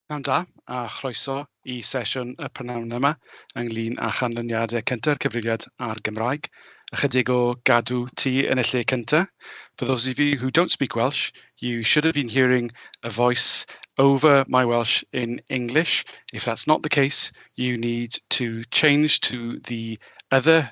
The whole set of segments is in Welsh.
Pnawn da a chroeso i sesiwn y prynhawn yma ynglyn â chanlyniadau cynta'r Cyfrifiad a'r Gymraeg. Ychydig o gadw tŷ yn y lle cynta. For those of you who don't speak Welsh, you should have been hearing a voice over my Welsh in English. If that's not the case, you need to change to the other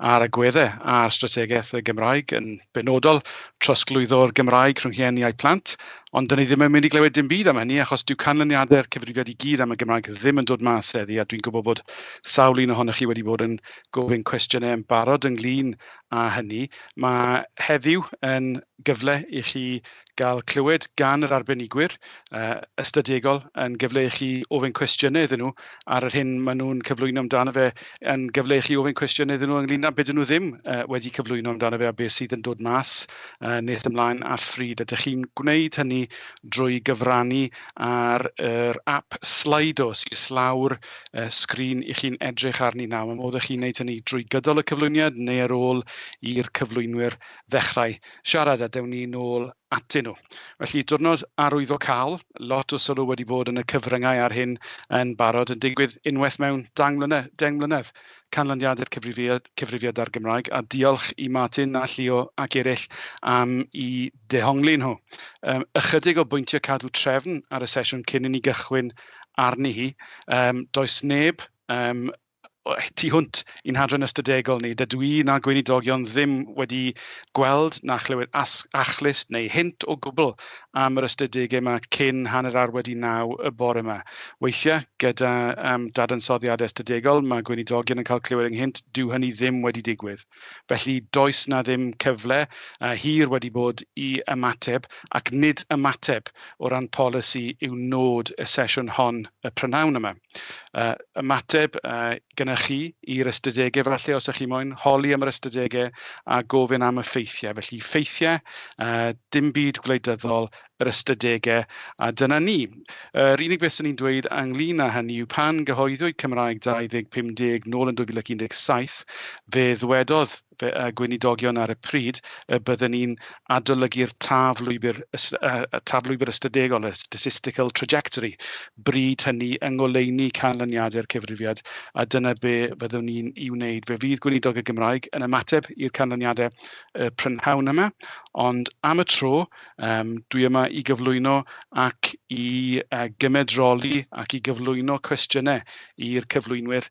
a'r agweddau ar strategaeth y Gymraeg, yn benodol trosglwyddo'r Gymraeg rhwng rhieni a'u plant, ond dan ni ddim yn mynd i glywed dim byd am hynny achos dyw canlyniadau'r cyfrifiad i gyd am y Gymraeg ddim yn dod mas heddi a dwi'n gwybod bod sawl un ohonoch chi wedi bod yn gofyn cwestiynau yn barod ynglyn â hynny. Mae heddiw yn gyfle i chi gael clywed gan yr arbenigwyr uh, ystadegol yn gyfle i chi ofyn cwestiynau iddyn nhw ar yr hyn maen nhw'n cyflwyno amdano fe, yn gyfle i chi ofyn cwestiynau iddyn nhw ynglyn â beth nhw ddim uh, wedi cyflwyno amdano fe a beth sydd yn dod mas uh, nes ymlaen ar ffryd. Ydych chi'n gwneud hynny drwy gyfrannu ar yr app Slido sy'n islawr uh, sgrin i chi'n edrych arni nawr. Mae modd i chi'n gwneud hynny drwy gydol y cyflwyniad neu ar ôl i'r cyflwynwyr ddechrau siarad a dewn ni nôl atyn nhw. Felly, diwrnod arwyddocaol, lot o sylw wedi bod yn y cyfryngau ar hyn yn barod, yn digwydd unwaith mewn dang mlynedd, deng mlynedd, canlyniad i'r cyfrifiad, cyfrifiad ar Gymraeg, a diolch i Martin a Llio ac eraill am i dehongli nhw. Um, ychydig o bwyntiau cadw trefn ar y sesiwn cyn i ni gychwyn arni hi. Um, does neb um, tu hwnt i'n hadran ystadegol ni. Dydw i na'r Gweinidogion ddim wedi gweld na chlywed achlys neu hint o gwbl am yr ystadegau yma cyn hanner awr wedi naw y bore yma. Weithiau, gyda um, dadansoddiadau ystadegol, mae Gweinidogion yn cael clywed ynghynt, dyw hynny ddim wedi digwydd. Felly, does na ddim cyfle uh, hir wedi bod i ymateb, ac nid ymateb o ran polisi yw nod y sesiwn hon y prynawn yma. yy ymateb yy gennych chi i'r ystadegau falle os ydych chi moyn holi am yr ystadegau a gofyn am y ffeithiau. Felly ffeithiau, uh, dim byd gwleidyddol, yr ystadegau, a dyna ni. Yr unig beth sy'n ni'n dweud ynglyn â hynny yw pan gyhoeddwyd Cymraeg 2050 nôl yn 2017, fe ddwedodd Fe a gweinidogion ar y pryd y bydden ni'n adolygu'r taf lwybr taf lwybr ystadegol, y statistical trajectory, bryd hynny yng ngoleuni canlyniadau'r cyfrifiad, a dyna be fyddwn ni'n ei wneud. Fe fydd Gweinidog y Gymraeg yn ymateb i'r canlyniadau y prynhawn yma, ond am y tro, um, dwi yma i gyflwyno ac i uh, gymedroli ac i gyflwyno cwestiynau i'r cyflwynwyr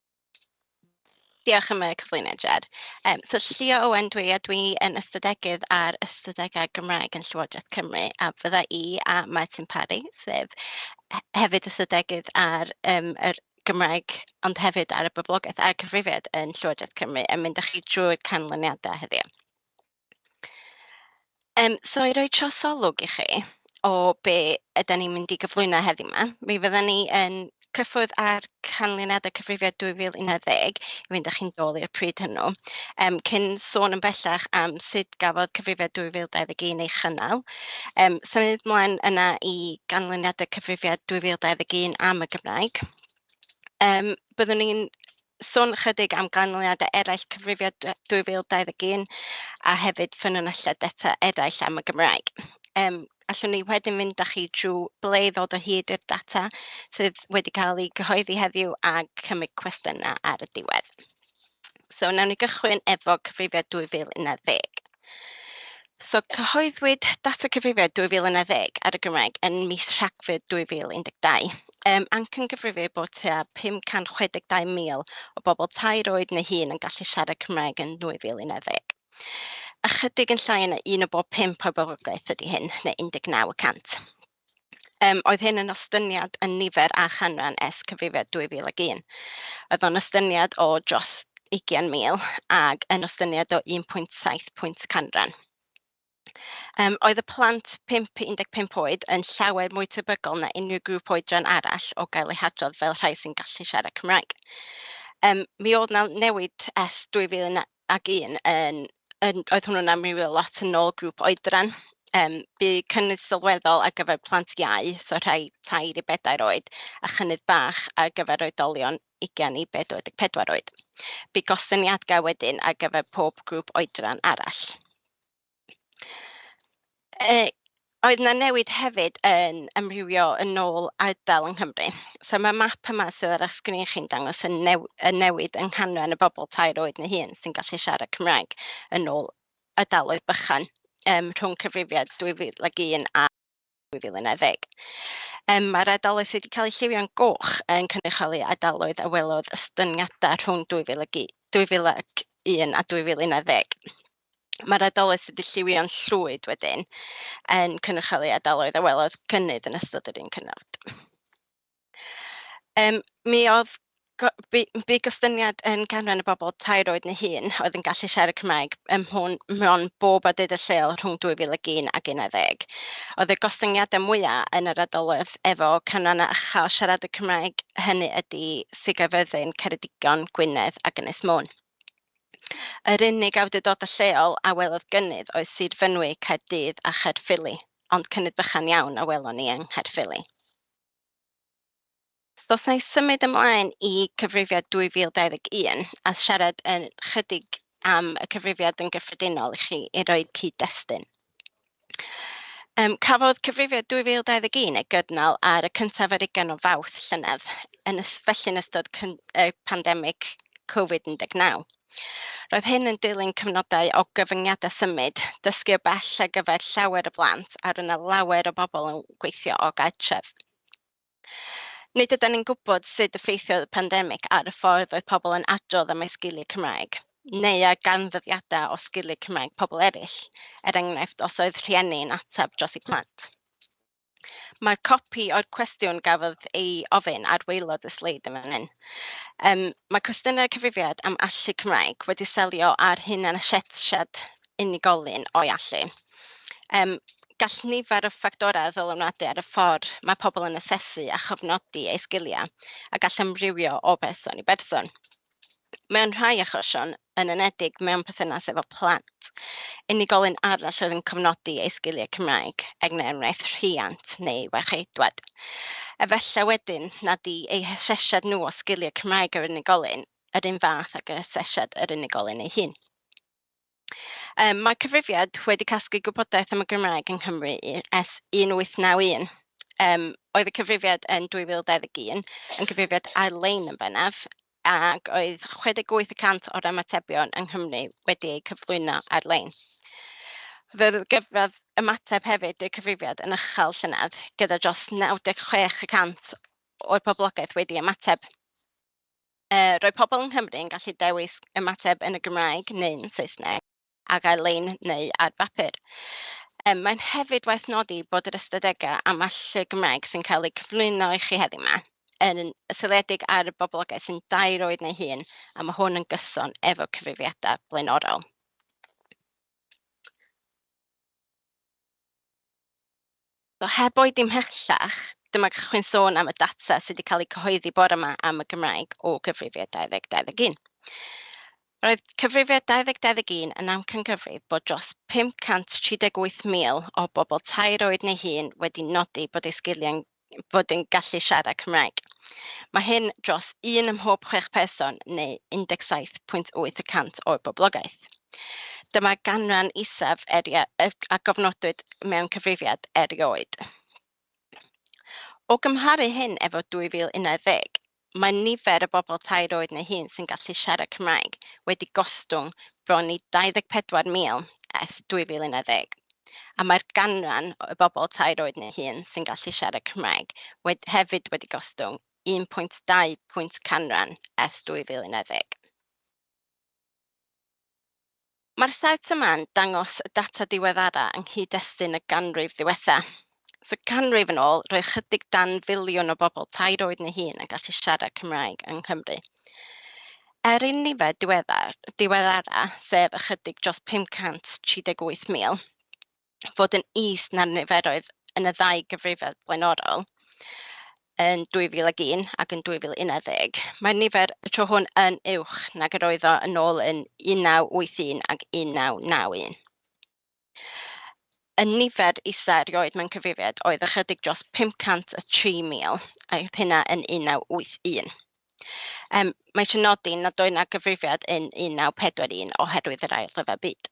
Diolch am y cyflwyniad, Jed. Um, so, Llio Owen dwi, a dwi yn ystadegydd ar ystadegau Gymraeg yn Llywodraeth Cymru, a fydda i a Martin Parry, sef hefyd ystadegydd ar um, yr Gymraeg, ond hefyd ar y boblogaeth a'r cyfrifiad yn Llywodraeth Cymru, yn mynd â chi drwy'r canlyniadau heddiw. Um, so i roi trosolwg i chi o be ydy ni'n mynd i gyflwyno heddi yma, mi fydda ni yn cyffwrdd ar canlyniadau cyfrifiad 2011 i fynd â chi'n dôl i'r pryd hwnnw. Um, cyn sôn yn bellach am sut gafodd cyfrifiad 2021 ei chynnal, um, symud mlaen yna i ganlyniadau cyfrifiad 2021 am y Gymraeg. Um, byddwn ni'n Sôn ychydig am ganlyniadau eraill Cyfrifiad 2021 a hefyd ffynonellau data eraill am y Gymraeg. Um, allwn ni wedyn fynd â chi drwy ble i ddod o hyd i'r data sydd wedi cael ei gyhoeddi heddiw a chymryd cwestiynau ar y diwedd. So, nawn ni gychwyn efo Cyfrifiad 2011. So, cyhoeddwyd data cyfrifiad 2010 ar y Gymraeg yn mis Rhagfyr 2012. Um, anc yn gyfrifir bod tua 562,000 o bobl tair oed neu hun yn gallu siarad Cymraeg yn 2010. Ychydig yn llai yna un o bob pimp o'r boblogaeth ydy hyn, neu 19 y cant. Yym, oedd hyn yn ostyniad yn nifer a chanran es cyfrifiad 2001. Oedd o'n ostyniad o dros 20,000 ag yn ostyniad o 1.7 pwynt canran. Um, oedd y plant 5 i 15 oed yn llawer mwy tebygol na unrhyw grŵp oedran arall o gael eu hadrodd fel rhai sy'n gallu siarad Cymraeg. Um, mi oedd na newid es 2001 ac un yn yn... Oedd hwnnw'n amrywio lot yn ôl grŵp oedran. Yym, bu cynnydd sylweddol ar gyfer plant iau, so rhai tair i bedair oed, a chynnydd bach ar gyfer oedolion ugain i 44 oed. Bu gostyngiadau wedyn ar gyfer pob grŵp oedran arall. Yy oedd 'na newid hefyd yn amrywio yn ôl ardal yng Nghymru. So mae'r map yma sydd ar eich sgrin chi'n dangos y new- y newid yng nghanran y bobl tair oed neu hun sy'n gallu siarad Cymraeg yn ôl ardaloedd bychan yym rhwng cyfrifiad 2001 a 2010. Ym, mae'r ardaloedd sydd wedi cael eu lliwio'n goch yn cynrychioli ardaloedd a welodd ystyngiadau rhwng 2001 a 2011. Mae'r ardaloedd sydd wedi lliwio'n llwyd wedyn yn cynrychioli ardaloedd a welodd gynnydd yn ystod yr un cyfnod. Yym mi oedd go- bu bu gostyngiad yn canran y bobl tair oed neu hun oedd yn gallu siarad Cymraeg ym mhwn mewn bob awdurdod lleol rhwng 2001 ac 11. Oedd y gostyngiadau mwyaf yn yr ardaloedd efo canrannau uchel siaradwyr Cymraeg, hynny ydi Sir Gaerfyrddin, Ceredigion, Gwynedd ac Ynys Môn. Yr unig awdurdodau lleol a welodd gynnydd oedd Sir Fynwy, Caerdydd a Chaerffili, ond cynnydd bychan iawn a welon ni yng Nghaerffili. So, os na i symud ymlaen i cyfrifiad 2021 a siarad yn chydig am y cyfrifiad yn gyffredinol i chi i roi cyd-destun. Um, cafodd cyfrifiad 2021 ei gydnal ar y cyntaf ar ugen o fawth llynedd, yn ys, felly'n ystod y pandemig Covid-19. Roedd hyn yn dilyn cyfnodau o gyfyngiadau symud, dysgu o bell ar gyfer llawer o blant a roedd yna lawer o bobl yn gweithio o gartref. Nid ydan ni'n gwybod sut effeithiodd y pandemig ar y ffordd roedd pobl yn adrodd am eu sgiliau Cymraeg, neu ar ganfyddiadau o sgiliau Cymraeg pobl eraill, er enghraifft os oedd rhieni yn ateb dros eu plant. Mae'r copi o'r cwestiwn gafodd ei ofyn ar waelod y sleid yn fan hyn. Um, mae cwestiynau cyfrifiad am allu Cymraeg wedi selio ar hyn a'n asesiad unigolyn o'i allu. Um, gall nifer o ffactorau ddylunadu ar y ffordd mae pobl yn asesu a chofnodi eu sgiliau a gall amrywio o berson i berson. Mewn rhai achosion, yn enedig mewn perthynas efo plant, unigolyn arall oedd yn cofnodi ei sgiliau Cymraeg, er enghraifft rhiant neu warcheidwad. Efallai wedyn nad i eu hasesiad nhw o sgiliau Cymraeg yr unigolyn yr un fath ag yr asesiad yr unigolyn ei hun. Um, mae cyfrifiad wedi casglu gwybodaeth am y Gymraeg yng Nghymru ers 1891. Um, oedd y cyfrifiad yn 2021 yn cyfrifiad ar-lein yn bennaf, ac oedd 68% o'r ymatebion yng Nghymru wedi eu cyflwyno ar-lein. Fe gyfradd ymateb hefyd i'r cyfrifiad yn ychel llynedd, gyda dros 96% o'r poblogaeth wedi ymateb. Yy, roedd pobl yng Nghymru yn gallu dewis ymateb yn y Gymraeg neu'n Saesneg ac ar-lein neu ar bapur. Yy, mae'n hefyd waeth nodi bod yr ystadegau am allu Cymraeg sy'n cael eu cyflwyno i chi heddiw yma yn seiliedig ar y boblogaeth sy'n dair oed neu hun a mae hwn yn gyson efo cyfrifiadau blaenorol. So heb oedi ymhellach, dyma gallwch chi'n sôn am y data sydd wedi cael ei cyhoeddi bore yma am y Gymraeg o gyfrifiad 2021. Roedd cyfrifiad 2021 yn amcangyfrif bod dros 538,000 o bobl tair oed neu hun wedi nodi bod eu sgiliau'n fod yn gallu siarad Cymraeg. Mae hyn dros un ym mhob chwech person neu 17.8 y cant o'r boblogaeth. Dyma'r ganran isaf a gofnodwyd mewn cyfrifiad erioed. O gymharu hyn efo 2011, Mae nifer y bobl tair oed neu hŷn sy'n gallu siarad Cymraeg wedi gostwng bron i 24,000 ers 2010, a mae'r ganran y bobl tair oed neu hŷn sy'n gallu siarad Cymraeg wed hefyd wedi gostwng 1.2 pwynt canran ers 2010. Mae'r set yma'n dangos y data diweddara yng nghyd-destun y ganrif ddiwetha'. So ganrif yn ôl, roedd chydig dan filiwn o bobl tair oed neu hun yn gallu siarad Cymraeg yng Nghymru. Er i'n nifer diweddar, diweddara', sef ychydig dros 538,000, fod yn is na'r niferoedd yn y ddau gyfrifiad blaenorol yn 2001 ac yn 2011. Mae'r nifer y tro hwn yn uwch nag yr oedd o yn ôl yn 1981 ac 1991. Y nifer isa erioed mewn cyfrifiad oedd ychydig dros 503,000 a oedd hynna yn 1981. Um, mae eisiau nodi nad oedd yna gyfrifiad yn 1941 oherwydd yr ail rhyfel byd.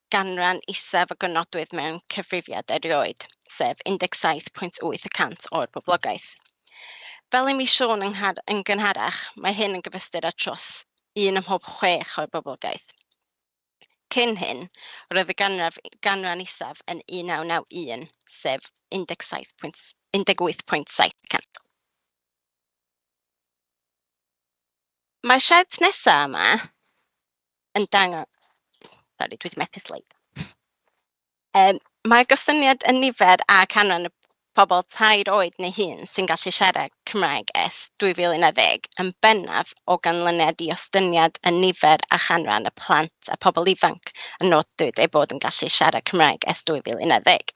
ganran isaf o gofnodwydd mewn cyfrifiad erioed, sef 17.8 y cant o'r boblogaeth. Fel i mi siôn yn gynharach, mae hyn yn gyfystyr â tros un ym mhob chwech o'r boblogaeth. Cyn hyn, roedd y ganraf, ganran isaf yn 1991, sef 17.18 y cant. Mae'r siart nesaf yma yn dangos... Sori, dwi wedi methu sleid. Um, Mae'r gostyngiad yn nifer a canran y pobl tair oed neu hun sy'n gallu siarad Cymraeg ers 2010 yn bennaf o ganlyniad i ostyngiad yn nifer a chanran y plant a pobl ifanc yn nodwyd eu bod yn gallu siarad Cymraeg ers 2010.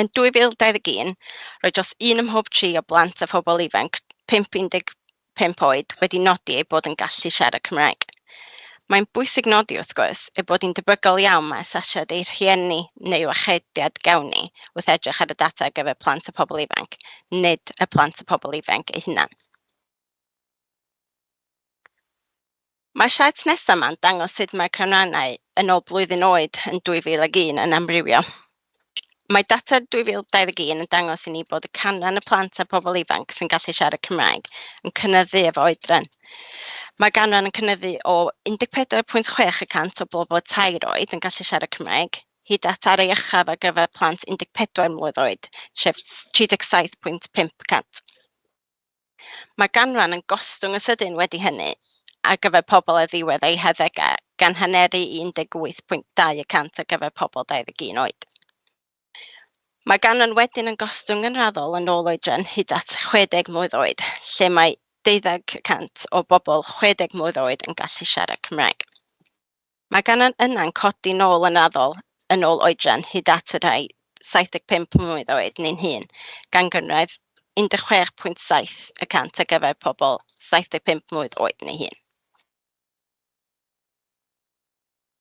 Yn 2021, roedd dros un ym mhob tri o blant a phobl ifanc 5-15 oed wedi nodi eu bod yn gallu siarad Cymraeg. Mae'n bwysig nodi, wrth gwrs, ei bod hi'n debygol iawn mai asesiad eu rhieni neu wrachediad gawn ni wrth edrych ar y data ar gyfer plant a phobl ifanc, nid y plant a phobl ifanc eu hunain. Mae'r siart nesaf yma'n dangos sut mae'r canrannau yn ôl blwyddyn oed yn 2001 yn amrywio. Mae data 2021 yn dangos i ni bod y canran y plant a pobl ifanc sy'n gallu siarad Cymraeg yn cynyddu efo oedran. Mae'r ganran yn cynyddu o 14.6 y cant o bobl o tair oed yn gallu siarad Cymraeg, hyd at ar ei uchaf ar gyfer plant 14 mlwydd oed, sef 37.5 y cant. Mae ganran yn gostwng yn sydyn wedi hynny ar gyfer pobl ar ddiwedd eu harddegau, gan haneru i 18.2 y cant ar gyfer pobl 21 oed. Mae ganran wedyn yn gostwng yn raddol yn ôl oedran hyd at 60 mlwydd oed, lle mae 12 y cant o bobl 60 mlwydd oed yn gallu siarad Cymraeg. Mae gan y yna'n codi nôl yn raddol yn ôl oedran hyd at y rhai 75 mlwydd oed neu'n hŷn, gan gynradd 16.7 y cant ar gyfer pobl 75 mlwydd oed neu hŷn.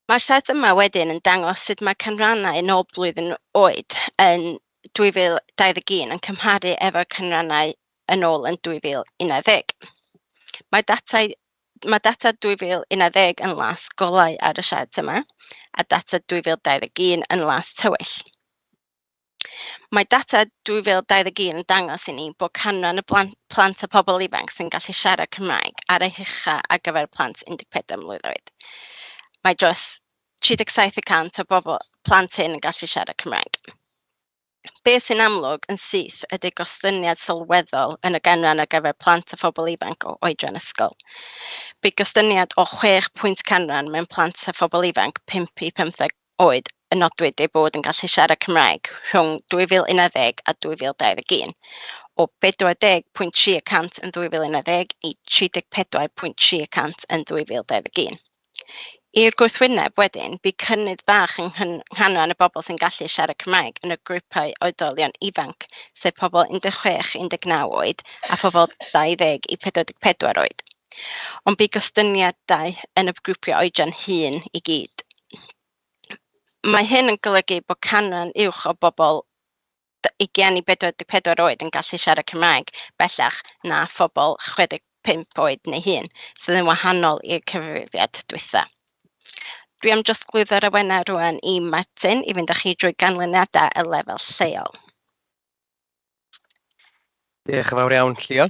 Mae'r set yma wedyn yn dangos sut mae canrannau yn ôl blwyddyn oed yn 2021 yn cymharu efo'r canrannau yn ôl yn 2011. Mae datau Mae data 2011 yn las golau ar y siart yma, a data 2021 yn las tywyll. Mae data 2021 yn dangos i ni bod canran y plant a pobl ifanc sy'n gallu siarad Cymraeg ar ei hucha ar gyfer plant 14 mlwydd oed. Mae dros 37 y cant o bobl plant hyn yn gallu siarad Cymraeg. Beth sy'n amlwg yn syth ydy gostyngiad sylweddol yn y ganran ar gyfer plant a phobl ifanc o oedran ysgol. Bu gostyngiad o chwech pwynt canran mewn plant a phobl ifanc 5 i 15 oed y nodwyd eu bod yn gallu siarad Cymraeg rhwng 2011 a 2021, o 40.3 y cant yn 2011 i 34.3 y cant yn 2021. I'r gwrthwyneb wedyn, bu cynnydd bach yng nghanran y bobl sy'n gallu siarad Cymraeg yn y grwpau oedolion ifanc, sef pobl 16 i 19 oed a phobl 20 i 44 oed. Ond bu gostyngiadau yn y grwpiau oedran hŷn i gyd. Mae hyn yn golygu bod canran uwch o bobl 20 i 44 oed yn gallu siarad Cymraeg bellach na phobl 65 oed neu hŷn, sydd yn wahanol i'r cyfrifiad dwytha. Dwi am drosglwyddo'r awenau rwan i Martin i fynd â chi drwy ganlyniadau y lefel lleol. Diolch yn fawr iawn, Llio.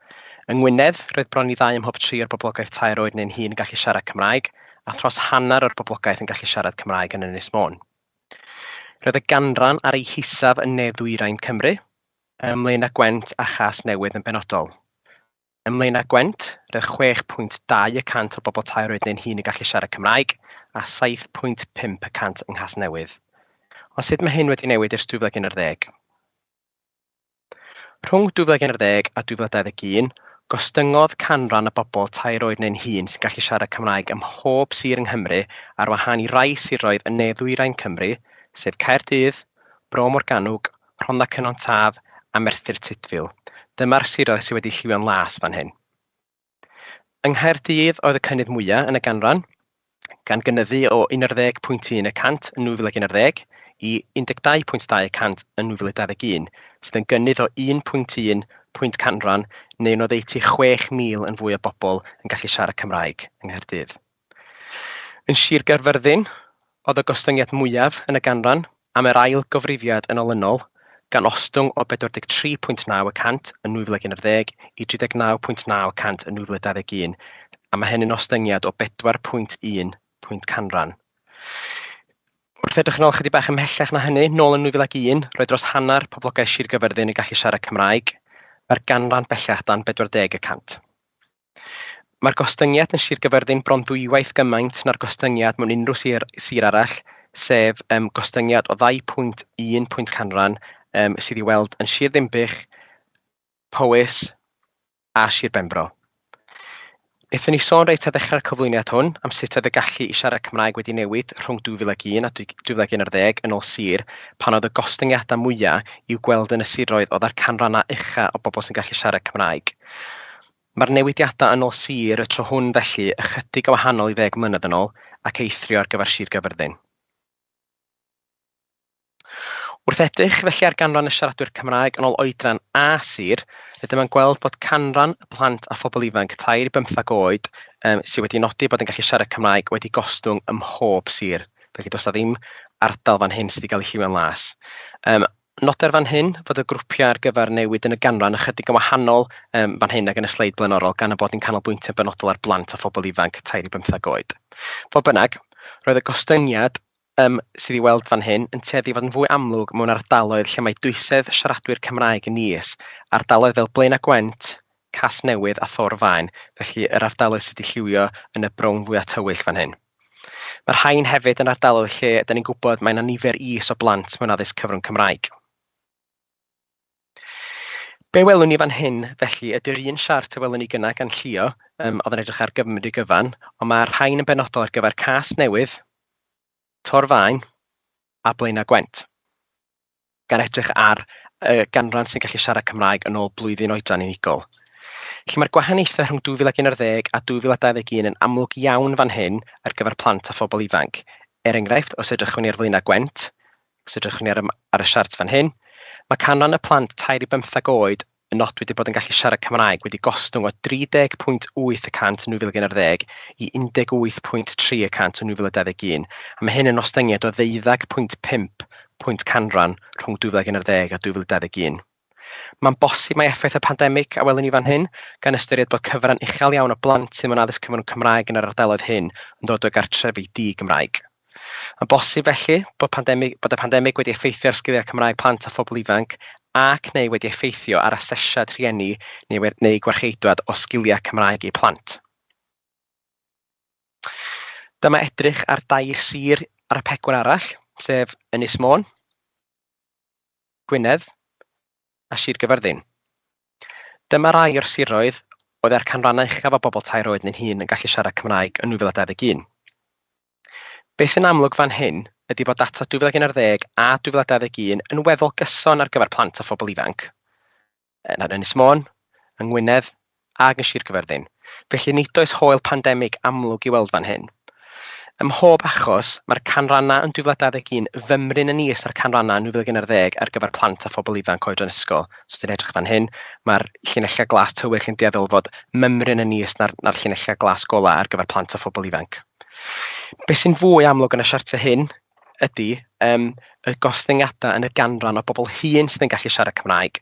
Yng Ngwynedd, roedd bron i ddau ym mhob tri o'r boblogaeth tair oed neu'n hŷn yn gallu siarad Cymraeg, a thros hanner o'r boblogaeth yn gallu siarad Cymraeg yn Ynys Môn. Roedd y ganran ar ei hisaf yn ne-ddwyrain Cymru, ym Mlaenau Gwent a Chasnewydd yn benodol. Ym Mlaenau Gwent, roedd 6.2 y cant o'r bobl tair oed neu'n hŷn yn gallu siarad Cymraeg, a 7.5 y cant yng Nghasnewydd. Ond sut mae hyn wedi newid ers 2011? Rhwng 2011 a 2021, gostyngodd canran y bobl tair oed neu'n hŷn sy'n gallu siarad Cymraeg ym mhob sir yng Nghymru ar wahân i rai siroedd yn ne-ddwyrain Cymru, sef Caerdydd, Bro Morgannwg, Rhondda Cynon Taf a Merthyr Tudful. Dyma'r siroedd sydd wedi lliwio'n las fan hyn. Yng Nghaerdydd oedd y cynnydd mwyaf yn y ganran, gan gynyddu o 11.1 y cant yn 2011 i 12.2 y cant yn 2021, sydd yn gynnydd o 1.1 pwynt canran neu'n oddeutu 6,000 yn fwy o bobl yn gallu siarad Cymraeg yng Nghaerdydd. Yn Sir Gaerfyrddin oedd y gostyngiad mwyaf yn y ganran am yr ail gyfrifiad yn olynol, gan ostwng o 43.9 y cant yn 2011 i 39.9 y cant yn 2021, a mae hyn yn ostyngiad o 4.1 pwynt canran. Wrth edrych yn ôl ychydig bach ymhellach na hynny, nôl yn 2001, roedd dros hanner poblogaeth Sir Gaerfyrddin yn gallu siarad Cymraeg, mae'r ganran bellach dan 40 y cant. Mae'r gostyngiad yn Sir Gaerfyrddin bron dwywaith gymaint na'r gostyngiad mewn unrhyw sir, sir arall, sef um, gostyngiad o 2.1 pwynt canran um, sydd i weld yn Sir Ddinbych, Powys a Sir Benfro. Ethon ni sôn reit a ddechrau'r cyflwyniad hwn am sut oedd y gallu i siarad Cymraeg wedi newid rhwng 2001 a 2011 yn ôl sir pan oedd y gostyngiadau mwyaf i'w gweld yn y siroedd oedd â'r canrannau ucha o bobl sy'n gallu siarad Cymraeg. Mae'r newidiadau yn ôl sir y tro hwn felly ychydig yn wahanol i ddeg mlynedd yn ôl ac eithrio ar gyfer Sir Gaerfyrddin. Wrth edrych felly ar ganran y siaradwyr Cymraeg yn ôl oedran a sir, rydym yn gweld bod canran y plant a phobl ifanc tair i bymthag oed um, sydd wedi nodi bod yn gallu siarad Cymraeg wedi gostwng ym mhob sir. Felly does na ddim ardal fan hyn sydd wedi cael ei lliwio'n las. Um, Noder fan hyn fod y grwpiau ar gyfer newid yn y ganran ychydig yn wahanol fan hyn ag yn y sleid blaenorol gan ein bod ni'n canolbwyntio'n benodol ar blant a phobl ifanc tair i bymtheg oed. Fodd bynnag, roedd y gostyngiad sydd i'w weld fan hyn yn tueddu i fod yn fwy amlwg mewn ardaloedd lle mae dwysedd siaradwyr Cymraeg yn is, ardaloedd fel Blaenau Gwent, Casnewydd a Thor Faen, felly yr ardaloedd sydd wedi lliwio yn y brown fwya' tywyll fan hyn. Mae'r rhain hefyd yn ardaloedd lle 'da ni'n gwybod mae 'na nifer is o blant mewn addysg cyfrwng Cymraeg. Be welwn ni fan hyn felly ydy'r un siart y welwn ni gyna gan llio, um, oedd yn edrych ar Gymru gyfan, ond mae'r rhain yn benodol ar gyfer Casnewydd, Torfaen a Blaenau Gwent. gan edrych ar y ganran sy'n gallu siarad Cymraeg yn ôl blwyddyn oedran unigol. Felly mae'r gwahaniaethau rhwng 2011 a 2021 yn amlwg iawn fan hyn ar gyfer plant a phobl ifanc. Er enghraifft, os edrychwn ni ar flaenau Gwent, os edrychwn ni ar, ar y siart fan hyn, mae canran y plant tair i bymtheg oed yn nodwyd eu bod yn gallu siarad Cymraeg wedi gostwng o 30.8 y cant yn 2011 i 18.3 y cant yn 2021, a mae hyn yn ostyngiad o ddeuddeg pwynt pump pwynt canran rhwng 2011 a 2021. Mae'n bosib mai effaith y pandemig a welwn ni fan hyn, gan ystyried bod cyfran uchel iawn o blant sydd mewn addysg cyfrwng Cymraeg yn yr ardaloedd hyn yn dod o gartrefi di-Gymraeg. Mae'n bosib, felly, bod pandemig, bod y pandemig wedi effeithio ar sgiliau Cymraeg plant a phobl ifanc ac neu wedi effeithio ar asesiad rhieni neu, neu gwarcheidwad o sgiliau Cymraeg eu plant. Dyma edrych ar dair sir ar y pegwr arall, sef Ynys Môn, Gwynedd, a Sir Gyffyrddin. Dyma rai o'r siroedd oedd â'r canrannau uchaf o bobl tair oed neu'n hŷn yn gallu siarad Cymraeg yn 2021. Beth sy'n amlwg fan hyn ydy bod data 2011 a 2021 yn weddol gyson ar gyfer plant a phobl ifanc yn Ynys Môn, yng Ngwynedd, ag yn Sir Gyferddin, felly nid oes haul pandemig amlwg i'w weld fan hyn. Ym mhob achos, mae'r canrannau yn 2021 fymryn yn is na'r canrannau yn 2011 ar gyfer plant a phobl ifanc oedran ysgol. Os ydych chi'n edrych fan hyn, mae'r llinellau glas tywyll yn dueddol o fod mymryn yn is na'r, na'r llinellau glas golau ar gyfer plant a phobl ifanc. Beth sy'n fwy amlwg yn y siartiau hyn ydy yym y gostyngiadau yn y ganran o bobl hŷn sydd yn gallu siarad Cymraeg.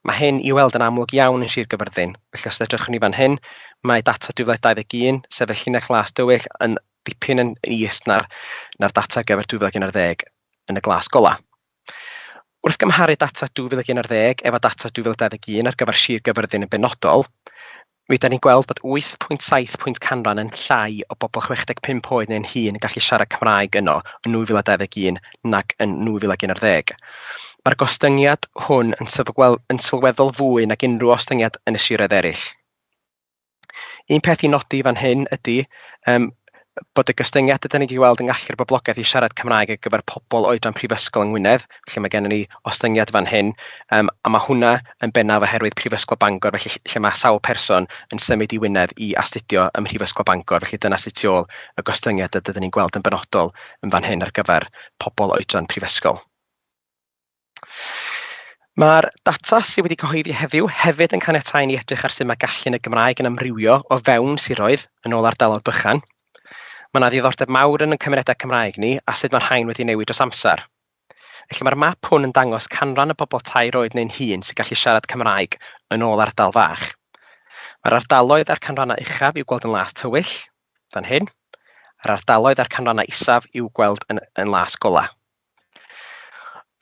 Mae hyn i'w weld yn amlwg iawn yn Sir Gaerfyrddin. Felly os edrychwn ni fan hyn, mae data 2021, sefyll llinell las dywyll, yn dipyn yn is na'r, na'r data ar gyfer 2011 yn y glas golau. Wrth gymharu data 2011 efo data 2021 ar gyfer Sir Gaerfyrddin yn benodol, Mi ydan ni'n gweld bod 8.7 pwynt canran yn llai o bobl 65 oed neu'n hŷn yn gallu siarad Cymraeg yno yn 2021 nag yn 2011. Mae'r gostyngiad hwn yn yn sylweddol fwy nag unrhyw ostyngiad yn y siroedd eraill. Un peth i nodi fan hyn ydy, um, bod y gostyngiadau da ni wedi weld yn gallu'r boblogaeth i siarad Cymraeg ar gyfer pobl oedran prifysgol yng Ngwynedd, felly mae gennym ni ostyngiad fan hyn, um, a mae hwnna yn bennaf oherwydd Prifysgol Bangor, felly lle mae sawl person yn symud i Wynedd i astudio ym Mhrifysgol Bangor, felly dyna sydd tu ôl y gostyngiad a dydyn ni'n gweld yn benodol yn fan hyn ar gyfer pobl oedran prifysgol. Mae'r data sydd wedi cyhoeddi heddiw hefyd yn caniatáu i ni edrych ar sut mae gallu yn y Gymraeg yn amrywio o fewn siroedd yn ôl ardaloedd bychan. Mae yna ddiddordeb mawr yn ein cymunedau Cymraeg ni a sut mae rhain wedi newid dros amser. Felly mae'r map hwn yn dangos canran y bobl tair oed neu'n hŷn sy'n gallu siarad Cymraeg yn ôl ardal fach. Mae'r ardaloedd a'r canrannau uchaf i'w gweld yn las tywyll, fan hyn, a'r ardaloedd a'r canrannau isaf i'w gweld yn, yn las golau.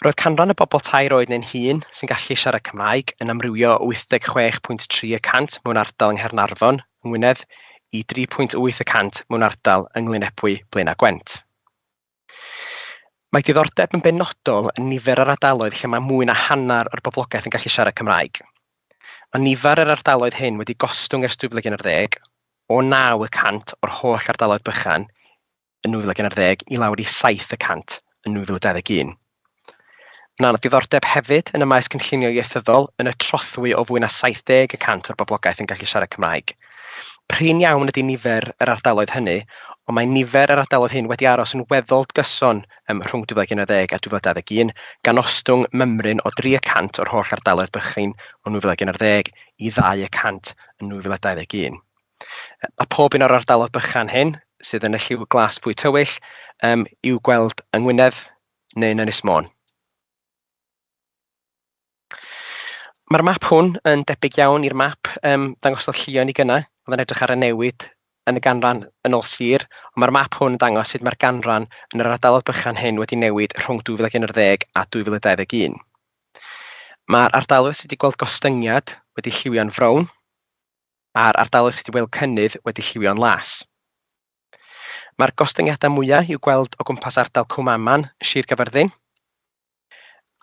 Roedd canran y bobl tair oed neu'n hŷn sy'n gallu siarad Cymraeg yn amrywio o 86.3 y cant mewn ardal yng Nghaernarfon, Ngwynedd, i 3.8 y cant mewn ardal yng Nglynebwy, Blaenau Gwent. Mae diddordeb yn benodol yn nifer yr ardaloedd lle mae mwy na hanner o'r boblogaeth yn gallu siarad Cymraeg. Mae nifer yr ardaloedd hyn wedi gostwng ers 2010, o 9 y cant o'r holl ardaloedd bychan yn 2011 i lawr i 7 y cant yn 2021. Mae yna ddiddordeb hefyd yn y maes cynllunio ieithyddol yn y trothwy o fwy na 70 y cant o'r boblogaeth yn gallu siarad Cymraeg. Prin iawn ydy nifer yr ardaloedd hynny, ond mae nifer yr ardaloedd hyn wedi aros yn weddol gyson ym rhwng 2011 a 2021, gan ostwng mymryn o 3 y cant o'r holl ardaloedd bychain yn 2011 i ddau y cant yn 2021. Mae pob un o'r ardaloedd bychan hyn, sydd yn y lliw glas fwy tywyll, um, i'w gweld yng Ngwynedd neu yn Ynys Môn. Mae'r map hwn yn debyg iawn i'r map um, ddangosodd llion i gynnau, oedd yn edrych ar y newid yn y ganran yn ôl sir, ond mae'r map hwn yn dangos sut mae'r ganran yn yr ardaloedd bychan hyn wedi newid rhwng 2011 a 2021. Mae'r ardaloedd sydd wedi gweld gostyngiad wedi lliwio'n frown, a'r ardaloedd sydd wedi gweld cynnydd wedi lliwio'n las. Mae'r gostyngiadau mwyaf i'w gweld o gwmpas ardal Cwm Aman, Sir Gaerfyrddin,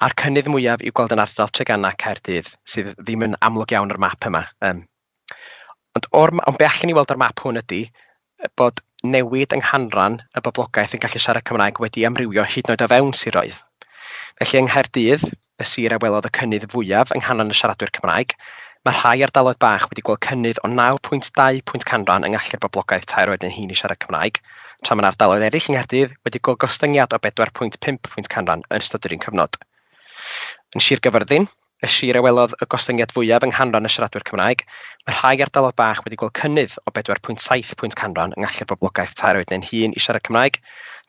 a'r cynnydd mwyaf i'w gweld yn ardal Treganna, Caerdydd, sydd ddim yn amlwg iawn ar y map yma. Ond be allwn ni weld o'r map hwn ydy, bod newid yng nghanran y boblogaeth yn gallu siarad Cymraeg wedi amrywio hyd yn oed o fewn siroedd. Felly, yng Nghaerdydd, y sir a welodd y cynnydd fwyaf yng nghanran y siaradwyr Cymraeg, mae rhai ardaloedd bach wedi gweld cynnydd o 9.2 pwynt canran yng ngallu'r boblogaeth tair oed neu'n hŷn i siarad Cymraeg, tra mae yna ardaloedd eraill yng Nghaerdydd wedi gweld gostyngiad o 4.5 pwynt canran yn ystod yr un cyfnod. Yn Sir Gaerfyrddin, Y sir a welodd y gostyngiad fwyaf yng nghanran y siaradwyr Cymraeg, mae rhai ardaloedd bach wedi gweld cynnydd o 4.7 pwynt canran yng ngallu'r boblogaeth tair oed neu'n hŷn i siarad Cymraeg,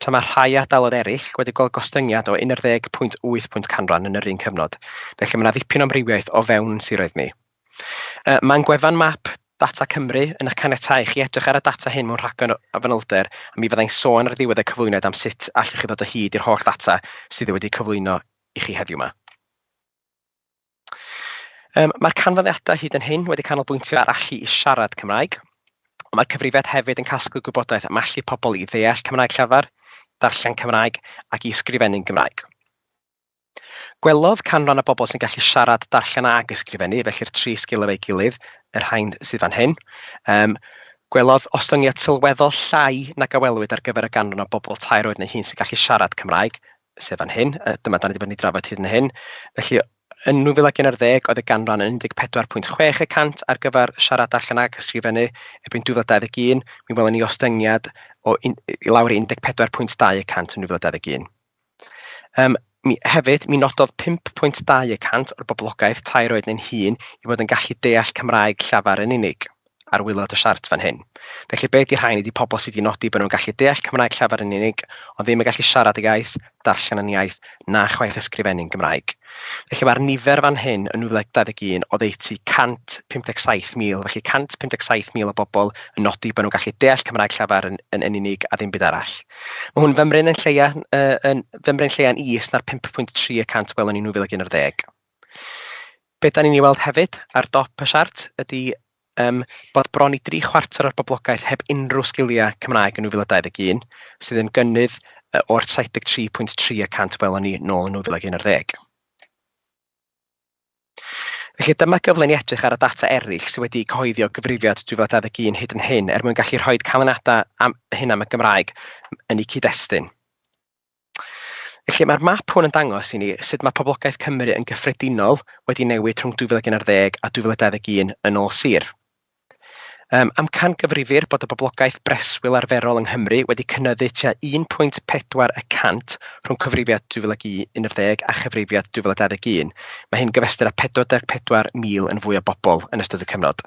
tra mae rhai ardaloedd eraill wedi gweld gostyngiad o 11.8 pwynt canran yn yr un cyfnod, felly mae yna ddipyn o amrywiaeth o fewn ein siroedd ni. Mae ein gwefan map Data Cymru yn eich caniatáu i chi edrych ar y data hyn mewn rhagor o fanylder a mi fydda i'n sôn ar ddiwedd y cyflwyniad am sut allwch chi ddod o hyd i'r holl ddata sydd wedi'u cyflwyno i chi heddiw 'ma. Yym, mae'r canfyddiadau hyd yn hyn wedi canolbwyntio ar allu i siarad Cymraeg, ond mae'r cyfrifiad hefyd yn casglu gwybodaeth am allu pobl i ddeall Cymraeg llafar, darllen Cymraeg ac i ysgrifennu'n Gymraeg. Gwelodd canran y bobl sy'n gallu siarad, darllen ac ysgrifennu, felly'r tri sgil efo'i gilydd, y rhain sydd fan hyn, um, gwelodd ostyngiad sylweddol llai nag a welwyd ar gyfer y ganran o bobl tair oed neu hun sy'n gallu siarad Cymraeg, sef fan hyn, a dyma dan ni 'di bod yn ei drafod hyd yn hyn. Felly, yn 2011 oedd y ganran yn 14.6 y cant ar gyfer siarad allan ac ysgrifennu, erbyn 2021 mi welon ni ostyngiad o un, i lawr i 14.2 y cant yn 2021. Um, mi, hefyd, mi nododd 5.2 y cant o'r boblogaeth tair oed neu'n hun i fod yn gallu deall Cymraeg llafar yn unig. ar waelod y siart fan hyn. Felly be ydy rhain? Ydy pobl sydd wedi nodi bod nhw'n gallu deall Cymraeg llafar yn unig, ond ddim yn gallu siarad y iaith, darllen yn iaith, na chwaith ysgrifennu'n Gymraeg. Felly mae'r nifer fan hyn yn 921 oddeutu 157,000, felly 157,000 o bobl yn nodi bod nhw'n gallu deall Cymraeg llafar yn, yn, yn unig a ddim byd arall. Mae hwn fymryn yn lleia, uh, yn fymryn lleia'n is na'r 5.3 y cant gwelwn ni 2011. Be dan ni'n ei weld hefyd ar dop y siart ydy um, bod bron i dri chwarter o'r boblogaeth heb unrhyw sgiliau Cymraeg yn 2021, sydd yn gynnydd o'r 73.3 y cant welon ni nôl yn 2011. Felly dyma gyfle ni edrych ar y data eraill sydd wedi cyhoeddio gyfrifiad 2021 hyd yn hyn er mwyn gallu rhoi canlyniadau am hyn am y Gymraeg yn eu cyd-destun. Felly mae'r map hwn yn dangos i ni sut mae poblogaeth Cymru yn gyffredinol wedi newid rhwng 2011 a 2021 yn ôl sir. Um, amcangyfrifir bod y boblogaeth breswyl arferol yng Nghymru wedi cynyddu tua 1.4 y cant rhwng cyfrifiad 2011 a chyfrifiad 2021. Mae hyn gyfystyr â 44,000 yn fwy o bobl yn ystod y cyfnod.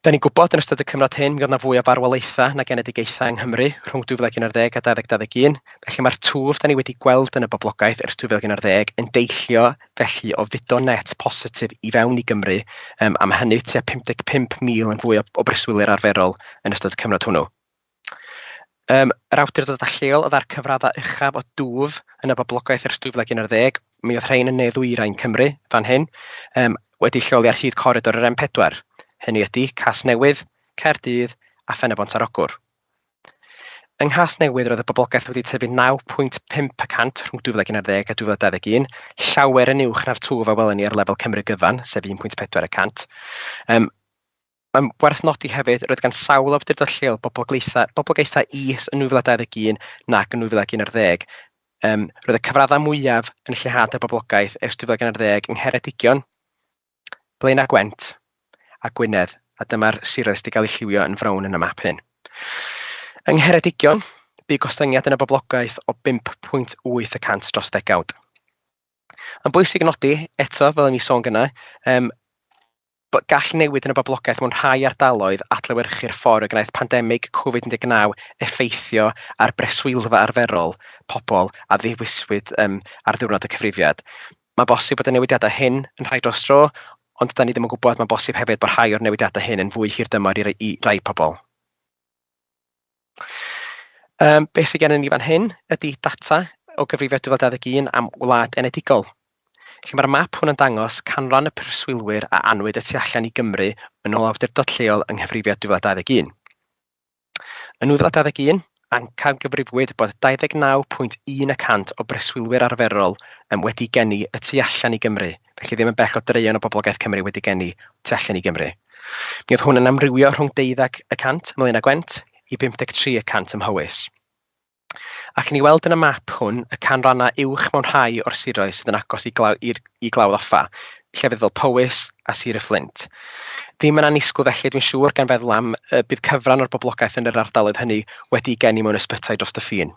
Da ni'n gwybod yn ystod y cyfnod hyn mi oedd 'na fwy o farwolaethau na genedigaethau yng Nghymru rhwng 2011 a 2021, felly mae'r twf da ni wedi gweld yn y boblogaeth ers 2011 yn deillio felly o fudo net positif i fewn i Gymru yym a ma' hynny tua 55,000 yn fwy o o breswylwyr arferol yn ystod y cyfnod hwnnw. Yym, yr awdurdodau lleol oedd â'r cyfraddau uchaf o dwf yn y boblogaeth ers 2011, mi oedd rhain yn ne-ddwyrain Cymru fan hyn, yym, wedi lleoli ar hyd coridor yr M4, hynny ydi Casnewydd, Caerdydd a Phen-y-bont ar Ogwr. Yng Nghasnewydd roedd y boblogaeth wedi tyfu 9.5 y cant rhwng 2011 a 2021, llawer yn uwch na'r twf a welon ni ar lefel Cymru gyfan, sef 1.4 y cant. Yym, Mae'n werth nodi hefyd, roedd gan sawl awdurdod lleol boblogaethau boblogaethau is yn 2021 nac yn 2011. Um, roedd y cyfraddau mwyaf yn lleihad y boblogaeth ers 2011 yng Ngheredigion, Blaenau Gwent a Gwynedd, a dyma'r siroedd sydd wedi cael eu lliwio yn frown yn y map hyn. Yng Ngheredigion, bu gostyngiad yn y boblogaeth o 5.8 y cant dros ddegawd. Yn bwysig nodi, eto, fel o'n i sôn gynnau, um, Gall newid yn y boblogaeth mewn rhai ardaloedd adlewyrchu'r ffordd y gwnaeth pandemig Covid 19 effeithio ar breswylfa arferol pobl a ddewiswyd ar ddiwrnod y cyfrifiad. Mae'n bosib bod y newidiadau hyn yn rhai dros dro, ond 'da ni ddim yn gwybod, mae'n bosib hefyd bod rhai o'r newidiadau hyn yn fwy hirdymor i rai pobl. Um, beth sydd gennym ni fan hyn ydy data o gyfrifiad 2021 am wlad enedigol. Lle mae'r map hwn yn dangos canran y preswylwyr a anwyd y tu allan i Gymru yn ôl awdurdod lleol yng nghyfrifiad 2021. Yn 2021, ancam gyfrifwyd bod 29.1 y cant o breswylwyr arferol wedi geni y tu allan i Gymru, felly ddim yn bell o draean o boblogaeth Cymru wedi geni tu allan i Gymru. Mi oedd hwn yn amrywio rhwng deuddeg y cant ymlaen â Gwent i 53 y cant ym Mhowys. Allwn ni weld yn y map hwn y canrannau uwch mewn rhai o'r siroedd sydd yn agos i, glaw, i, i glawdd offa, llefydd fel Powys a Sir y Fflint. Ddim yn annisgwyl felly, dwi'n siŵr, gan feddwl am y bydd cyfran o'r boblogaeth yn yr ardaloedd hynny wedi geni mewn ysbytai dros y ffin.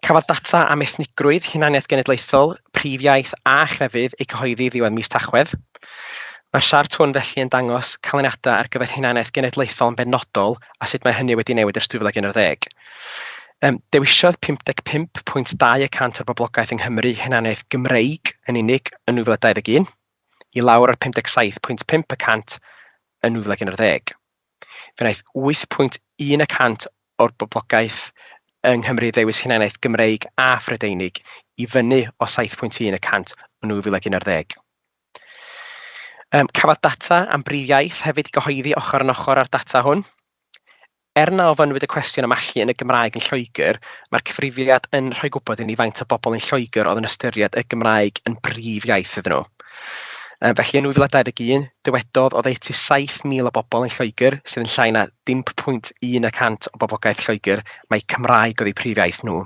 Cafodd data am ethnigrwydd, hunaniaeth genedlaethol, prif iaith a chrefydd eu cyhoeddi ddiwedd mis Tachwedd. Mae'r siart hwn felly yn dangos canlyniadau ar gyfer hunaniaeth genedlaethol yn benodol a sut mae hynny wedi newid ers 2011. Um, dewisiodd 55.2 y cant o'r boblogaeth yng Nghymru hunaniaeth Gymreig yn unig yn 2021, i lawr ar 57.5 y cant yn 2011. Fe wnaeth 8.1 y cant o'r boblogaeth yng Nghymru ddewis hunaniaeth Gymreig a Phrydeinig, i fyny o 7.1 y cant yn 2011. Cafodd data am brif iaith hefyd ei gyhoeddi ochr yn ochr â'r data hwn. Er na ofynnwyd y cwestiwn am allu yn y Gymraeg yn Lloegr, mae'r cyfrifiad yn rhoi gwybod i ni faint o bobl yn Lloegr oedd yn ystyried y Gymraeg yn brif iaith iddyn nhw. Yy felly yn 2021, dywedodd oddeutu 7,000 o bobl yn Lloegr, sydd yn llai na 0.1 y cant o boblogaeth Lloegr, mai Cymraeg oedd eu prif iaith nhw.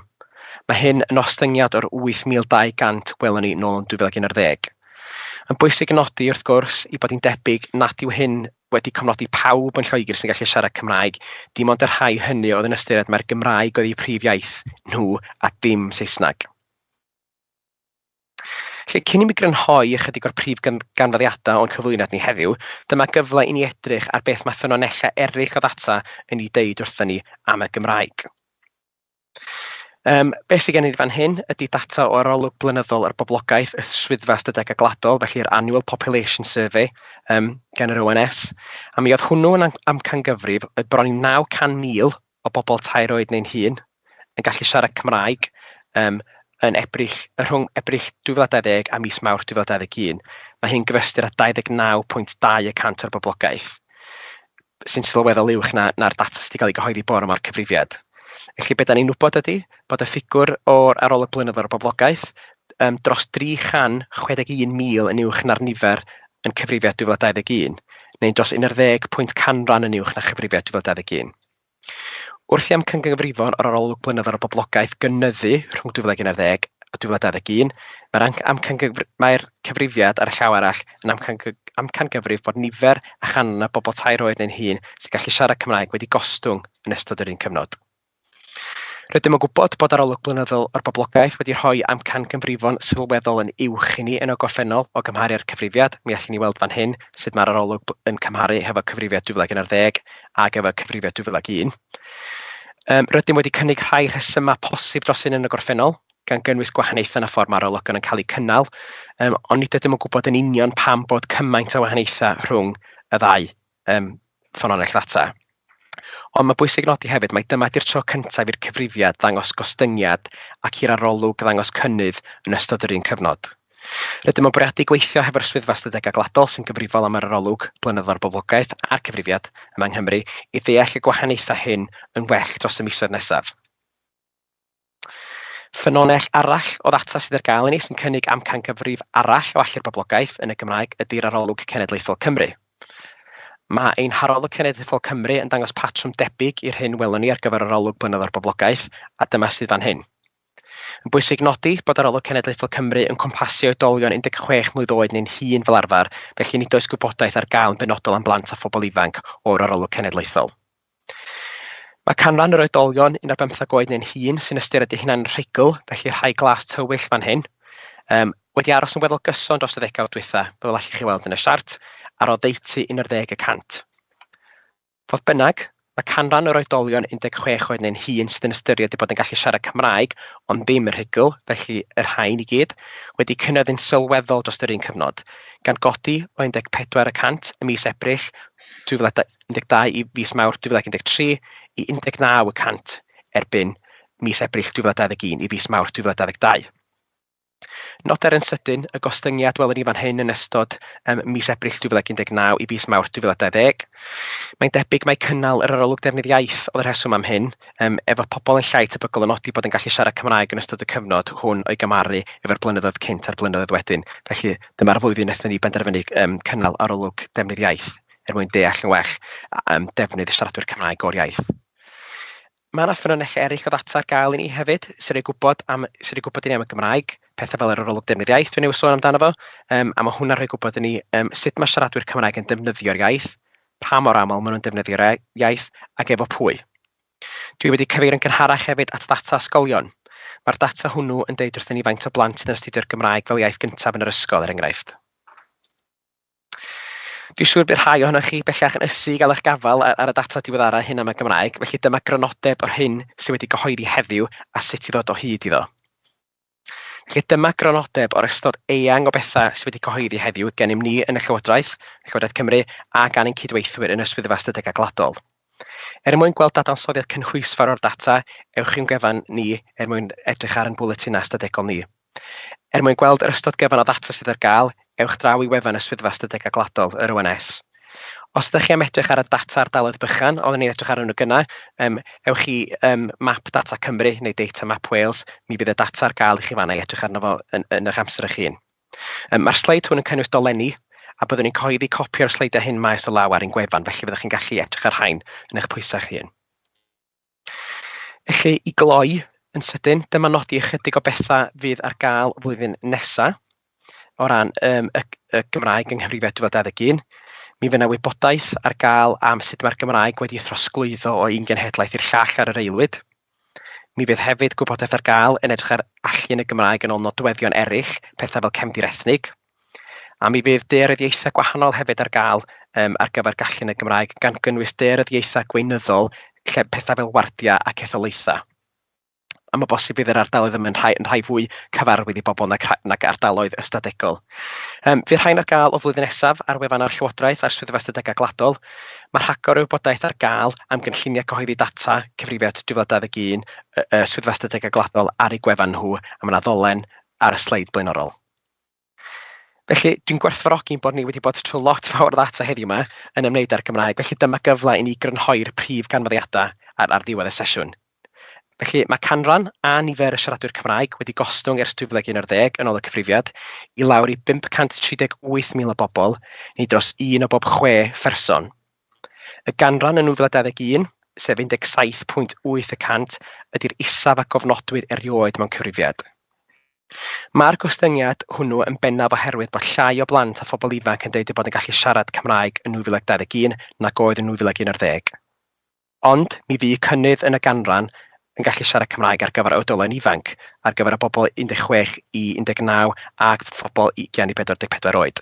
Mae hyn yn ostyngiad o'r 8,200 welon ni nôl yn 2011. Yn bwysig yn nodi, wrth gwrs, i bod hi'n debyg nad yw hyn wedi cofnodi pawb yn Lloegr sy'n gallu siarad Cymraeg, dim ond y rhai hynny oedd yn ystyried mai'r Gymraeg oedd eu prif iaith nhw a dim Saesneg. Felly, cyn i mi grynhoi ychydig o'r prif ganfyddiadau o'n cyflwyniad ni heddiw, dyma gyfle i ni edrych ar beth mae ffynonellau eraill o ddata yn ei dweud wrthyn ni am y Gymraeg. Um, beth sydd gennym ni fan hyn ydy data o arolwg blynyddol ar boblogaeth y Swyddfa Ystadegau Gwladol, felly'r Annual Population Survey um, gan yr ONS, a mi oedd hwnnw yn amcangyfrif oedd bron i 900,000 o bobl tair oed neu'n hŷn yn gallu siarad Cymraeg yym yn Ebrill... rhwng Ebrill 2020 a mis Mawrth 2021. Mae hyn yn gyfystyr â 29.2 y cant o'r boblogaeth, sy'n sylweddol uwch na na'r data sydd wedi cael ei gyhoeddi bore 'ma o'r cyfrifiad. Felly be dan ni'n wybod ydy bod y ffigwr o'r arolwg blynyddol o'r boblogaeth yym dros 361,000 yn uwch na'r nifer yn cyfrifiad 2021, neu'n dros 11 pwynt canran yn uwch na chyfrifiad 2021. Wrth i amcangyfrifon yr arolwg blynyddol ar boblogaeth gynyddu rhwng 2011 a 2021, mae'r amcangyfr... mae'r cyfrifiad ar y llaw arall yn amcangy- amcangyfrif bod nifer a chanran y bobl tair oed neu'n hŷn sy'n gallu siarad Cymraeg wedi gostwng yn ystod yr un cyfnod. Rydym yn gwybod bod arolwg blynyddol o'r boblogaeth wedi rhoi amcangyfrifon sylweddol yn uwch i ni yn y gorffennol o gymharu â'r cyfrifiad, mi allwn ni weld fan hyn sut mae'r arolwg yn cymharu hefo cyfrifiad 2011 ar gyfer cyfrifiad 2001. Um, rydym wedi cynnig rhai rhesymau posib dros hyn yn y gorffennol, gan gynnwys gwahaniaethau yn y ffordd mae'r ologon yn cael eu cynnal, um, ond nid ydym yn gwybod yn union pam bod cymaint o wahaniaethau rhwng y ddau um, ffynonell ddata. Ond mae bwysig nodi hefyd, mae dyma di'r tro cyntaf i'r cyfrifiad ddangos gostyngiad ac i'r arolwg ddangos cynnydd yn ystod yr un cyfnod. Rydym yn bwriadu gweithio hefo'r Swyddfa Ystadegau Gwladol sy'n gyfrifol am yr arolwg blynyddol ar boblogaeth a'r cyfrifiad yma yng Nghymru i ddeall y gwahaniaethau hyn yn well dros y misoedd nesaf. Ffynonell arall o ddata sydd ar gael i ni sy'n cynnig amcangyfrif arall o allu'r boblogaeth yn y Gymraeg ydy'r Arolwg Cenedlaethol Cymru. Mae ein Harolwg Cenedlaethol Cymru yn dangos patrwm debyg i'r hyn welon ni ar gyfer yr arolwg blynyddol ar boblogaeth, a dyma sydd fan hyn. Yn bwysig nodi bod arolwg cenedlaethol Cymru yn cwmpasu oedolion 16 mlwydd oed neu'n hŷn fel arfer, felly nid oes gwybodaeth ar gael yn benodol am blant a phobl ifanc o'r arolwg cenedlaethol. Mae canran yr oedolion un ar bymthag oed neu'n hŷn sy'n ystyried eu hunain yn rhugl, felly rhai glas tywyll fan hyn, um, wedi aros yn weddol gyson dros y ddegawd dwytha, fel allwch chi weld yn y siart, ar oddeutu 11 y cant. Fodd bynnag, mae canran yr oedolion 16 oed neu'n hŷn sydd yn ystyried eu bod yn gallu siarad Cymraeg, ond ddim yn rhugl, felly y rhain i gyd, wedi cynyddu'n sylweddol dros yr un cyfnod, gan godi o 14 y cant ym mis Ebrill 2012 i fis Mawrth 2013 i 19 y cant erbyn mis Ebrill 2021 i fis Mawrth 2022. Noder yn sydyn y gostyngiad welwn ni fan hyn yn ystod um, mis Ebrill 2019 i fis Mawrth 2020. Mae'n debyg mae cynnal yr arolwg defnydd iaith oedd y rheswm am hyn, um, efo pobl yn llai tebygol o nodi bod yn gallu siarad Cymraeg yn ystod y cyfnod hwn o'i gymaru efo'r blynyddoedd cynt a'r blynyddoedd wedyn. Felly dyma'r flwyddyn wnaethon ni benderfynu um, cynnal arolwg defnydd iaith er mwyn deall yn well um, defnydd siaradwyr Cymraeg o'r iaith. Mae 'na ffynonellau eraill o ddata ar gael i ni hefyd, sy'n rhoi gwybod am... sy'n rhoi gwybod i ni am y Gymraeg, petha fel yr arolwg defnydd iaith dwi newydd sôn amdano fo, yym a ma' hwnna'n rhoi gwybod i ni yym sut ma' siaradwyr Cymraeg yn defnyddio'r iaith, pa mor aml maen nhw'n defnyddio'r e- iaith ac efo pwy. Dwi wedi cyfeirio'n gynharach hefyd at ddata ysgolion. Mae'r data hwnnw yn deud wrthyn ni faint o blant sydd yn astudio'r Gymraeg fel iaith gyntaf yn yr ysgol, er enghraifft. Dwi'n siŵr bydd rhai ohonoch chi bellach yn ysu i gael eich gafael ar y data diweddaraf hyn am y Gymraeg, felly dyma grynodeb o'r hyn sydd wedi gyhoeddi heddiw a sut i ddod o hyd iddo. Felly dyma grynodeb o'r ystod eang o bethau sydd wedi cyhoeddi heddiw gennym ni yn y Llywodraeth, Llywodraeth Cymru a gan ein cydweithwyr yn y Swyddfa Ystadegau Gwladol. Er mwyn gweld dadansoddiad cynhwysfawr o'r data, ewch i'n gwefan ni er mwyn edrych ar ein bwletinau ystadegol ni. Er mwyn gweld yr ystod gyfan o ddata sydd ar gael, ewch draw i wefan y Swyddfa Ystadegau Gwladol, yr ONS. Os ydych chi am edrych ar y data ardaloedd bychan, oeddwn ni'n edrych arnyn nhw gynnau, um, ewch i um, Map Data Cymru neu Data Map Wales, mi fydd y data ar gael i chi fanna i edrych arno fo yn, yn eich amser eich hun. Um, Mae'r sleid hwn yn cynnwys dolenni, a byddwn ni'n cyhoeddi copi o'r sleidiau hyn maes o law ar ein gwefan, felly fyddwch chi'n gallu edrych ar rhain yn eich pwysau eich hun. Felly, i gloi yn sydyn, dyma nodi ychydig o bethau fydd ar gael flwyddyn nesaf o ran um, y, y Gymraeg yng Nghymru 2021. Mi fydd yna wybodaeth ar gael am sut mae'r Gymraeg wedi throsglwyddo o un genhedlaeth i'r llall ar yr aelwyd. Mi fydd hefyd gwybodaeth ar gael yn edrych ar allu yn y Gymraeg yn ôl nodweddion eraill, pethau fel cefndir ethnig, A mi fydd dearyddiaethau gwahanol hefyd ar gael um, ar gyfer gallu yn y Gymraeg, gan gynnwys dearyddiaethau gweinyddol, lle pethau fel wardiau ac etholaethau. A mae bosib bydd yr ardaloedd yma'n rhai, yn rhai fwy cyfarwydd i bobl nag, nag ardaloedd ystadegol. Um, fydd rhain ar gael o flwyddyn nesaf ar wefan ar Llywodraeth a'r Swyddfa Ystadegau Gwladol. Mae rhagor o wybodaeth ar gael am gynlluniau cyhoeddi data cyfrifiad 2021 y Swyddfa Ystadegau Gwladol ar ei gwefan nhw, a mae yna ddolen ar y sleid blaenorol. Felly, dwi'n gwerthfawrogi'n bod ni wedi bod trwy lot fawr o ddata heddiw 'ma yn ymwneud â'r Gymraeg, felly dyma gyfle i ni grynhoi'r prif ganfyddiadau ar ar ddiwedd y sesiwn. Felly, mae canran a nifer y siaradwyr Cymraeg wedi gostwng ers 2011 yn ôl y cyfrifiad i lawr i 538,000 o bobl, neu dros un o bob chwe pherson. Y ganran yn 2021, sef 17.8 y cant, ydy'r isaf a gofnodwyd erioed mewn cyfrifiad. Mae'r gostyngiad hwnnw yn bennaf oherwydd bod llai o blant a phobl ifanc yn dweud eu bod yn gallu siarad Cymraeg yn 2021 nag oedd yn 2011. Ond mi fu cynnydd yn y ganran yn gallu siarad Cymraeg ar gyfer oedolion ifanc, ar gyfer y bobl 16 i 19 a phobl i gen i 44 oed.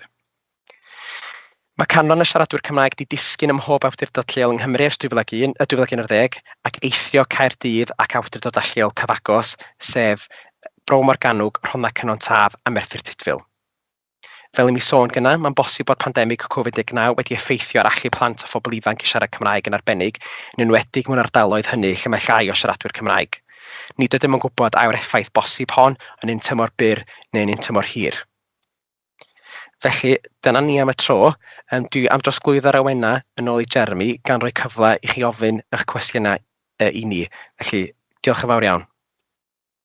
Mae canran y siaradwyr Cymraeg 'di disgyn ym mhob awdurdod lleol yng Nghymru ers 2001, 2011 ac eithrio Caerdydd ac awdurdodau lleol cyfagos, sef Bro Morgannwg, Rhondda Cynon Taf a Merthyr Tudful. Fel i mi sôn gyna, mae'n bosib bod pandemig Covid 19 wedi effeithio ar allu plant a phobl ifanc i siarad Cymraeg yn arbennig, yn enwedig mewn ardaloedd hynny lle mae llai o siaradwyr Cymraeg. Nid ydym yn gwybod a yw'r effaith bosib hon yn un tymor byr neu'n un tymor hir. Felly, dyna ni am y tro. Um, dwi am drosglwyddo'r awena yn ôl i Jeremy, gan roi cyfle i chi ofyn eich cwestiynau uh, i ni. Felly, diolch yn fawr iawn.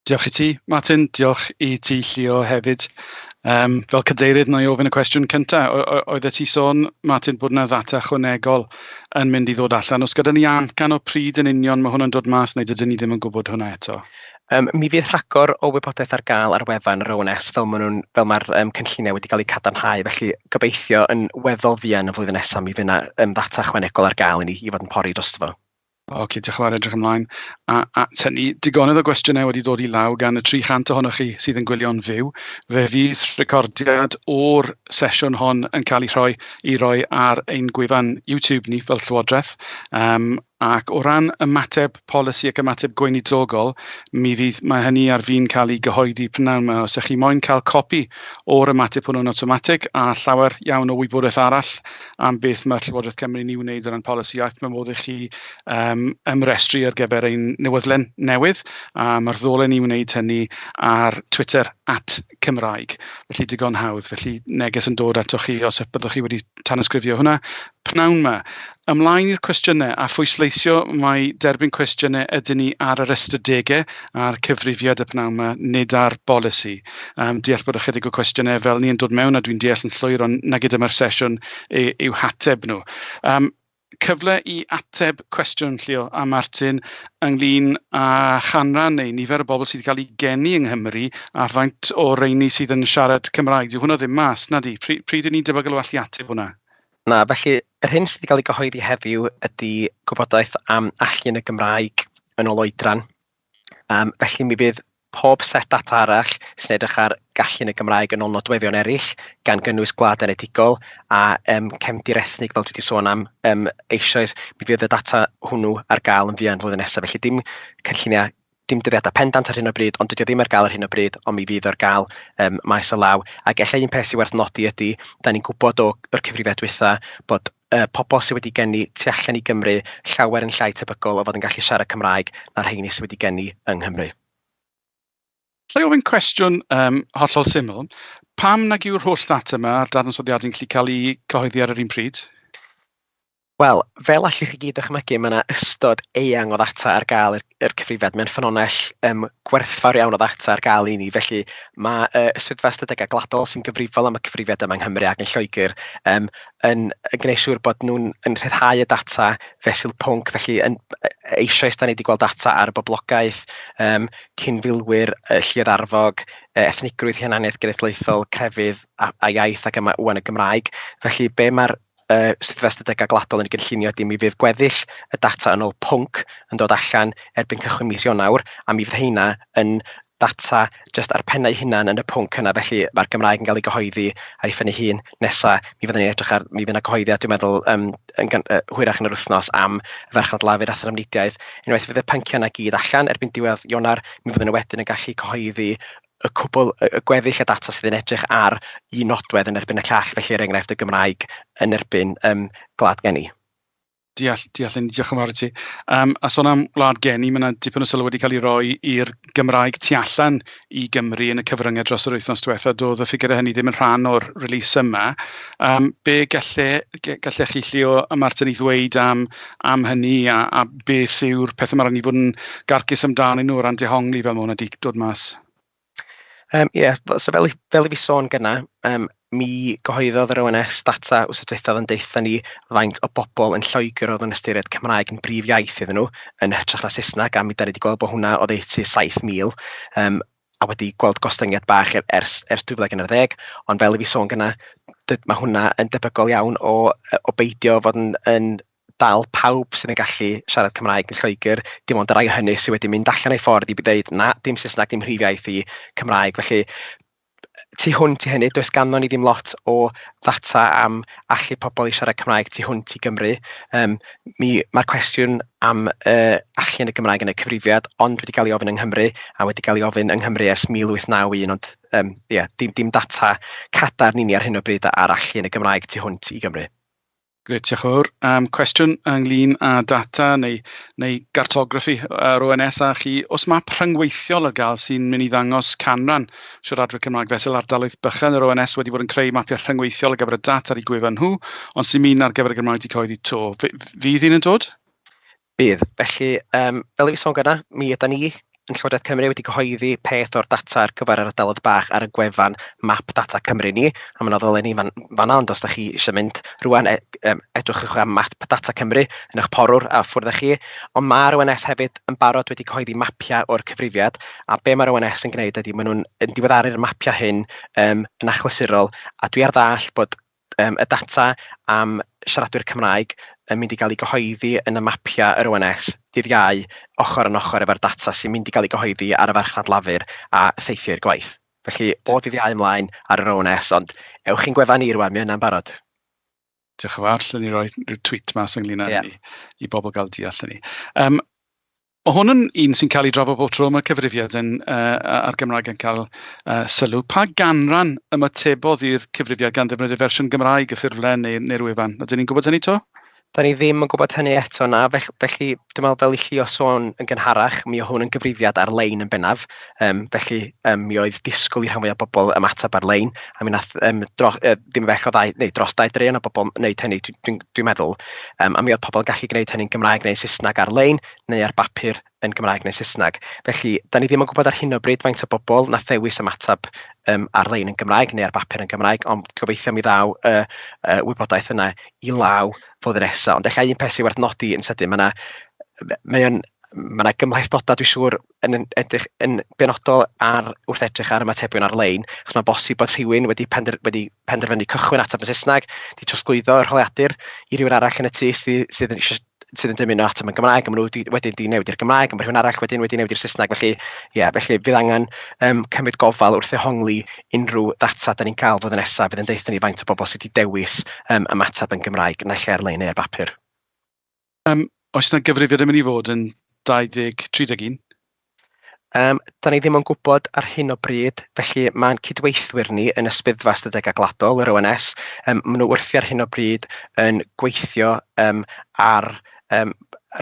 Diolch i ti, Martin. Diolch i ti, Llio, hefyd. Um, fel cadeirydd, na i ofyn y cwestiwn cyntaf. Oeddet ti sôn, Martin, bod yna ddata chwanegol yn mynd i ddod allan. Os gyda ni amcan o pryd yn union mae hwn yn dod mas, neu dydyn ni ddim yn gwybod hwnna eto? Um, mi fydd rhagor o wybodaeth ar gael ar wefan yr ONS fel mae'r ma um, cynlluniau wedi cael eu cadarnhau, felly gobeithio yn weddol fuan y flwyddyn nesaf mi fydd yna um, ddata chwanegol ar gael i ni i fod yn pori drosto fo. Ocê, diolch yn fawr, edrych ymlaen at hynny. Digonedd o gwestiynau wedi dod i law gan y 300 ohonoch chi sydd yn gwylio'n fyw. Fe fydd recordiad o'r sesiwn hon yn cael ei rhoi i roi ar ein gwefan YouTube ni fel Llywodraeth. Um, ac o ran ymateb polisi ac ymateb gweinidogol, mi fydd, mae hynny ar fi'n cael ei gyhoeddi prynawn yma. Os ydych chi moyn cael copi o'r ymateb hwnnw'n awtomatig a llawer iawn o wybodaeth arall, am beth mae Llywodraeth Cymru yn ei wneud o ran polisi iaith. Mae modd i chi um, ymrestru ar gyfer ein newydlen newydd, a mae'r ddolen i wneud hynny ar Twitter at Cymraeg. Felly digon hawdd, felly neges yn dod atoch chi os byddwch chi wedi tanysgrifio hwnna. Pnawn yma. Ymlaen i'r cwestiynau a phwysleisio mae derbyn cwestiynau ydyn ni ar yr ystadegau a'r cyfrifiad y pnawn yma, nid ar bolisi. Um, deall bod ychydig o cwestiynau fel ni yn dod mewn a dwi'n deall yn llwyr ond nag ydym ar sesiwn i'w hateb nhw. Um, cyfle i ateb cwestiwn Llio a Martin ynglyn â chanran neu nifer o bobl sydd wedi cael eu geni yng Nghymru a faint o reini sydd yn siarad Cymraeg. Dyw hwnna ddim mas, na di? Pryd, pryd ni'n debygol o allu ateb hwnna? Na, felly yr hyn sydd wedi cael ei gyhoeddi heddiw ydy gwybodaeth am allu yn y Gymraeg yn ôl oedran. Yym felly mi fydd pob set data arall sy'n edrych ar gallu yn y Gymraeg yn ôl nodweddion eraill, gan gynnwys gwlad enedigol a yym cefndir ethnig fel dwi wedi sôn am yym eisoes, mi fydd y data hwnnw ar gael yn fuan flwyddyn nesaf. Felly dim cynlluniau, dim dyddiadau pendant ar hyn o bryd, ond dydy o ddim ar gael ar hyn o bryd, ond mi fydd o ar gael yym maes o law. Ac ella un peth sy'n werth nodi ydy, da ni'n gwybod o'r cyfrifiad dwytha bod y pobl sydd wedi geni tu allan i Gymru llawer yn llai tebygol o fod yn gallu siarad Cymraeg na rheiny sydd wedi geni yng Nghymru. Alla i ofyn cwestiwn um, hollol syml. Pam nag yw'r holl ddata yma a'r dadansoddiadau yn gallu cael eu cyhoeddi ar yr un pryd? Wel, fel allwch chi gyd dychmygu, mae yna ystod eang o ddata ar gael i'r, i'r cyfrifiad. Mae'n ffynonell um, gwerthfawr iawn o ddata ar gael i ni, felly mae uh, Swyddfa Ystadegau Gladol sy'n gyfrifol am y cyfrifiad yma yng Nghymru ac yn Lloegr um, yn yn gwneud siŵr bod nhw'n yn rhyddhau y data fesul pwnc, felly yn eisoes da ni wedi gweld data ar y boblogaeth, yym cyn-filwyr, y lluoedd arfog, e- ethnigrwydd, hunaniaeth genedlaethol, crefydd a a iaith ac yma ŵan y Gymraeg. Felly be ma'r yy Swyddfa Ystadegau Gwladol yn ei gynllunio ydy mi fydd gweddill y data yn ôl pwnc yn dod allan erbyn cychwyn mis Ionawr a mi fydd heina yn data jyst ar pennau hunan yn y pwnc yna, felly mae'r Gymraeg yn cael ei gyhoeddi ar ei phen ei hun. Nesa, mi fyddwn ni'n edrych ar... mi fydd 'na gyhoeddiad dwi'n meddwl yym yn gyn- yy hwyrach yn yr wythnos am y farchnad lafur a thrafnidiaeth. Unwaith fydd y pynciau yna i gyd allan erbyn diwedd Ionawr, mi fyddwn ni wedyn yn gallu cyhoeddi y cwbl, y y gweddill y data sydd yn edrych ar un nodwedd yn erbyn y llall, felly er enghraifft y Gymraeg yn erbyn yym Gwlad Geni. Deall, deall Linda, diolch yn fawr i ti. Yym a sôn am wlad geni, mae 'na dipyn o sylw wedi cael ei roi i'r Gymraeg tu allan i Gymru yn y cyfryngau dros yr wythnos diwetha'. Doedd y ffigurau hynny ddim yn rhan o'r release yma. Yym be galle ge- gallech chi Llio a Martin i ddweud am am hynny a a beth yw'r pethau mae rhaid ni fod yn garcus amdanyn nhw o ran dehongli fel mae hwnna 'di dod mas? Yym ie, so fel i fel i fi sôn gynna, yym mi gyhoeddodd yr ONS data wythnos diwethaf oedd yn deutha ni faint o bobl yn Lloegr oedd yn ystyried Cymraeg yn brif iaith iddyn nhw, yn hytrach na Saesneg, a mi dan ni wedi gweld bod hwnna oddeutu 7,000, yym a wedi gweld gostyngiad bach e- ers ers 2011, ond fel i fi sôn gynna, dy- ma' hwnna yn debygol iawn o yy o beidio fod yn yn dal pawb sydd yn gallu siarad Cymraeg yn Lloegr, dim ond y rhai hynny sydd wedi mynd allan eu ffordd i ddeud 'na, dim Saesneg, dim mhrif iaith i, Cymraeg'. Felly, tu hwnt i hynny, does ganddon ni ddim lot o ddata am allu pobl i siarad Cymraeg tu hwnt i Gymru. Yym mi... mae'r cwestiwn am yy allu yn y Gymraeg yn y cyfrifiad ond wedi cael ei ofyn yng Nghymru a wedi cael ei ofyn yng Nghymru ers 1891 ond yym ia dim dim data cadarn i ni ar hyn o bryd ar allu yn y Gymraeg tu hwnt i Gymru. Grêt, diolch yn fawr. Yym, cwestiwn ynglyn â data neu neu gartograffi yr ONS a chi, oes map rhyngweithiol ar gael sy'n mynd i ddangos canran siaradwyr Cymraeg fesul ardaloedd bychan? Yr ONS wedi bod yn creu mapiau rhyngweithiol ar gyfer y data ar eu gwefan nhw, ond sy'n mynd ar gyfer y Gymraeg 'di cyhoeddi 'to. F- f- fydd un yn dod? Bydd. Felly, yym fel o'n i'n sôn gynna', mi ydan ni yn Llywodraeth Cymru wedi cyhoeddi peth o'r data ar gyfer yr ardaloedd bach ar y gwefan Map Data Cymru ni, a ma' 'na ddolenni fan fan'na, ond os dach chi isio mynd rŵan, e- yym edrychwch ar Map Data Cymru yn eich porwr a ffwrdd â chi. Ond ma'r ONS hefyd yn barod wedi cyhoeddi mapiau o'r cyfrifiad, a be ma'r ONS yn gwneud ydi maen nhw'n yn diweddaru'r mapiau hyn yym yn achlysurol, a dwi ar ddall' bod yym y data am siaradwyr Cymraeg yn mynd i gael ei gyhoeddi yn y mapiau yr ONS dydd Iau, ochr yn ochr efo'r data sy'n mynd i gael ei gyhoeddi ar y farchnad lafur a theithioi'r gwaith. Felly, o dydd Iau ymlaen ar yr ONS, ond ewch i'n gwefan ni rŵan, mae yna'n barod. Diolch yn fawr, allwn ni roi rhyw tweet mas ynglyn â hynny i bobl gael deall hynny. Yym. Mae hwn yn un sy'n cael ei drafod bob tro mae cyfrifiad yn, uh, a'r Gymraeg yn cael uh, sylw. Pa ganran ymatebodd i'r cyfrifiad gan ddefnyddio fersiwn Gymraeg y ffurflen neu'r neu wefan? Ydyn ni'n gwybod hynny to? Da ni ddim yn gwybod hynny eto na, felly, felly dwi'n meddwl fel i chi o sôn yn gynharach, mi o hwn yn gyfrifiad ar-lein yn bennaf, Yym felly yym mi oedd disgwyl i rhan fwyaf o bobl ymateb ar-lein, a mi wnaeth yym dro- yy ddim bell o ddau neu dros dau draean o bobl wneud hynny dwi dwi'n dwi'n meddwl, yym a mi oedd pobl yn gallu gwneud hynny'n Gymraeg neu Saesneg ar-lein neu ar bapur yn Gymraeg neu Saesneg. Felly, dan ni ddim yn gwybod ar hyn o bryd faint o bobl wnaeth ddewis ymateb yym ar-lein yn Gymraeg neu ar bapur yn Gymraeg, ond gobeithio mi ddaw y y wybodaeth yna i law flwyddyn nesa. Ond ella un peth sy'n werth nodi yn sydyn, ma' 'na... mae o'n... ma' 'na gymhlethdodau dwi'n siŵr yn yn edrych yn benodol ar... wrth edrych ar ymatebion ar-lein, achos mae'n bosib bod rhywun wedi pender- wedi penderfynu cychwyn ateb yn Saesneg, 'di trosglwyddo yr holiadur i rywun arall yn y tŷ sy sydd eisiau sydd yn dymuno ateb yn Gymraeg, a maen nhw wedi wedyn 'di newid i'r Gymraeg, a ma' rhywun arall wedyn wedi newid i'r Saesneg. Felly, ie, felly bydd angen yym cymryd gofal wrth ddehongli unrhyw ddata dan ni'n cael flwyddyn nesa, fydd yn deutha ni faint o bobl sy' 'di dewis yym ymateb yn Gymraeg naill ai ar-lein neu ar bapur. Yym oes 'na gyfrifiad yn mynd i fod yn 20, 31? Um, da ni ddim yn gwybod ar hyn o bryd, felly mae'n cydweithwyr ni yn Ysbyddfa Ystadegau Gwladol, yr ONS, um, maen nhw wrthi ar hyn o bryd yn gweithio um, ar um,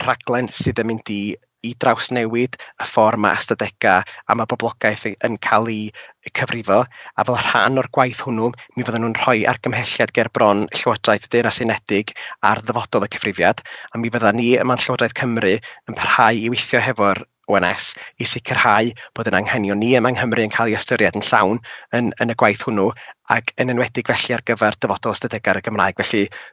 rhaglen sydd yn mynd i i drawsnewid y ffordd mae ystadegau a mae poblogaeth yn cael eu cyfrifo, a fel rhan o'r gwaith hwnnw, mi fyddan nhw'n rhoi argymhelliad ger bron Llywodraeth y Deyrnas Unedig ar ddyfodol y cyfrifiad, a mi fyddan ni yma'n Llywodraeth Cymru yn parhau i weithio hefo'r ONS i sicrhau bod ein anghenion ni yma yng Nghymru yn cael eu ystyried yn llawn yn yn y gwaith hwnnw, ac yn enwedig felly ar gyfer dyfodol ystadegau ar y Gymraeg. Felly,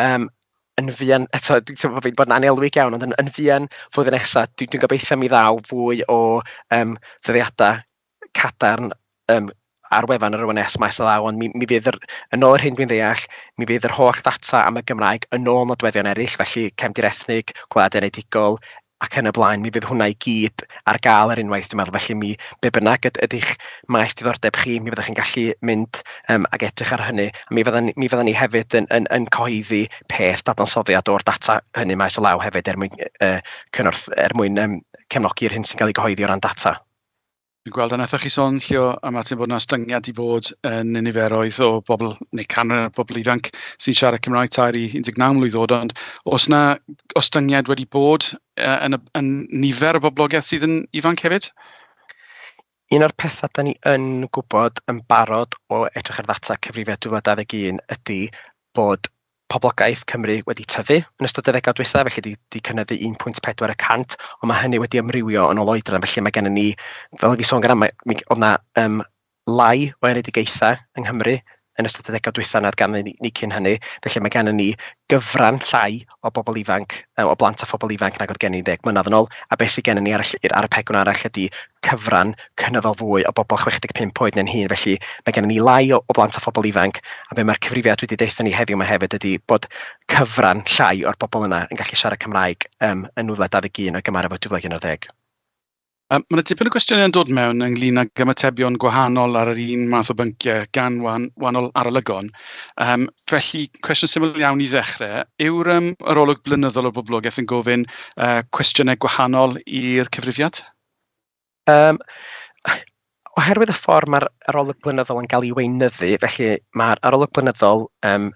yym yn fuan eto, dwi'n teimlo fi 'di bod yn annelwig iawn, ond yn yn fuan flwyddyn nesa, dwi dwi'n gobeitho mi ddaw fwy o yym ddyddiadau cadarn yym ar wefan yr ONS maes o law, ond mi mi fydd yr... yn ôl yr hyn dwi'n ddeall, mi fydd yr holl ddata am y Gymraeg yn ôl nodweddion eraill, felly cefndir ethnig, gwlad enedigol, ac yn y blaen, mi fydd hwnna i gyd ar gael ar unwaith dwi'n meddwl, felly mi... be bynnag yd- ydy'ch maes diddordeb chi, mi fyddwch chi'n gallu mynd yym ac edrych ar hynny, a mi fyddan ni mi fyddan ni hefyd yn yn yn cyhoeddi peth dadansoddiad o'r data hynny maes o law hefyd er mwyn yy cynorth- er mwyn yym cefnogi'r hyn sy'n cael ei gyhoeddi o ran data. Dwi'n gweld a wnaethoch chi sôn Llio a Martin bod 'na ostyngiad 'di bod yn y niferoedd o bobl neu canran y bobl ifanc sy'n siarad Cymraeg tair i 19 mlwydd oed ond oes 'na ostyngiad wedi bod yy yn y yn nifer y boblogaeth sydd yn ifanc hefyd? Un o'r pethau da ni yn gwybod yn barod o edrych ar ddata cyfrifiad 2021 ydy bod poblogaeth Cymru wedi tyfu yn ystod y ddegawd dwytha, felly 'di 'di cynyddu 1.4 y cant, ond ma' hynny wedi amrywio yn ôl oedran, felly ma' gennon ni, fel o'n i'n sôn gynna', mi g- o'dd 'na yym lai o enedigaetha' yng Nghymru yn ystod y ddegawd dwytha' nag ganddyn ni ni cyn hynny, felly ma' gennon ni gyfran llai o bobl ifanc, yy o blant a phobl ifanc nag o'dd gennym ni ddeg mlynedd yn ôl, a be' sy gennon ni ar y ll- ar y pegwn arall ydi cyfran cynyddol fwy o bobl 65 oed neu'n hŷn, felly mae gennym ni lai o o blant a phobl ifanc, a be mae'r cyfrifiad wedi deutha ni heddiw 'ma hefyd ydy bod cyfran llai o'r bobl yna yn gallu siarad Cymraeg yym yn 2021 o'i gymharu efo 2011. Mae yna dipyn o gwestiynau yn dod mewn ynglyn ag ymatebion gwahanol ar yr un math o bynciau gan wan- wahanol arolygon. Yym felly cwestiwn syml iawn i ddechrau, yw'r yym yr olwg blynyddol o boblogaeth yn gofyn yy cwestiynau gwahanol i'r cyfrifiad? Yym oherwydd y ffordd mae'r arolwg blynyddol yn cael ei weinyddu, felly mae'r arolwg blynyddol yym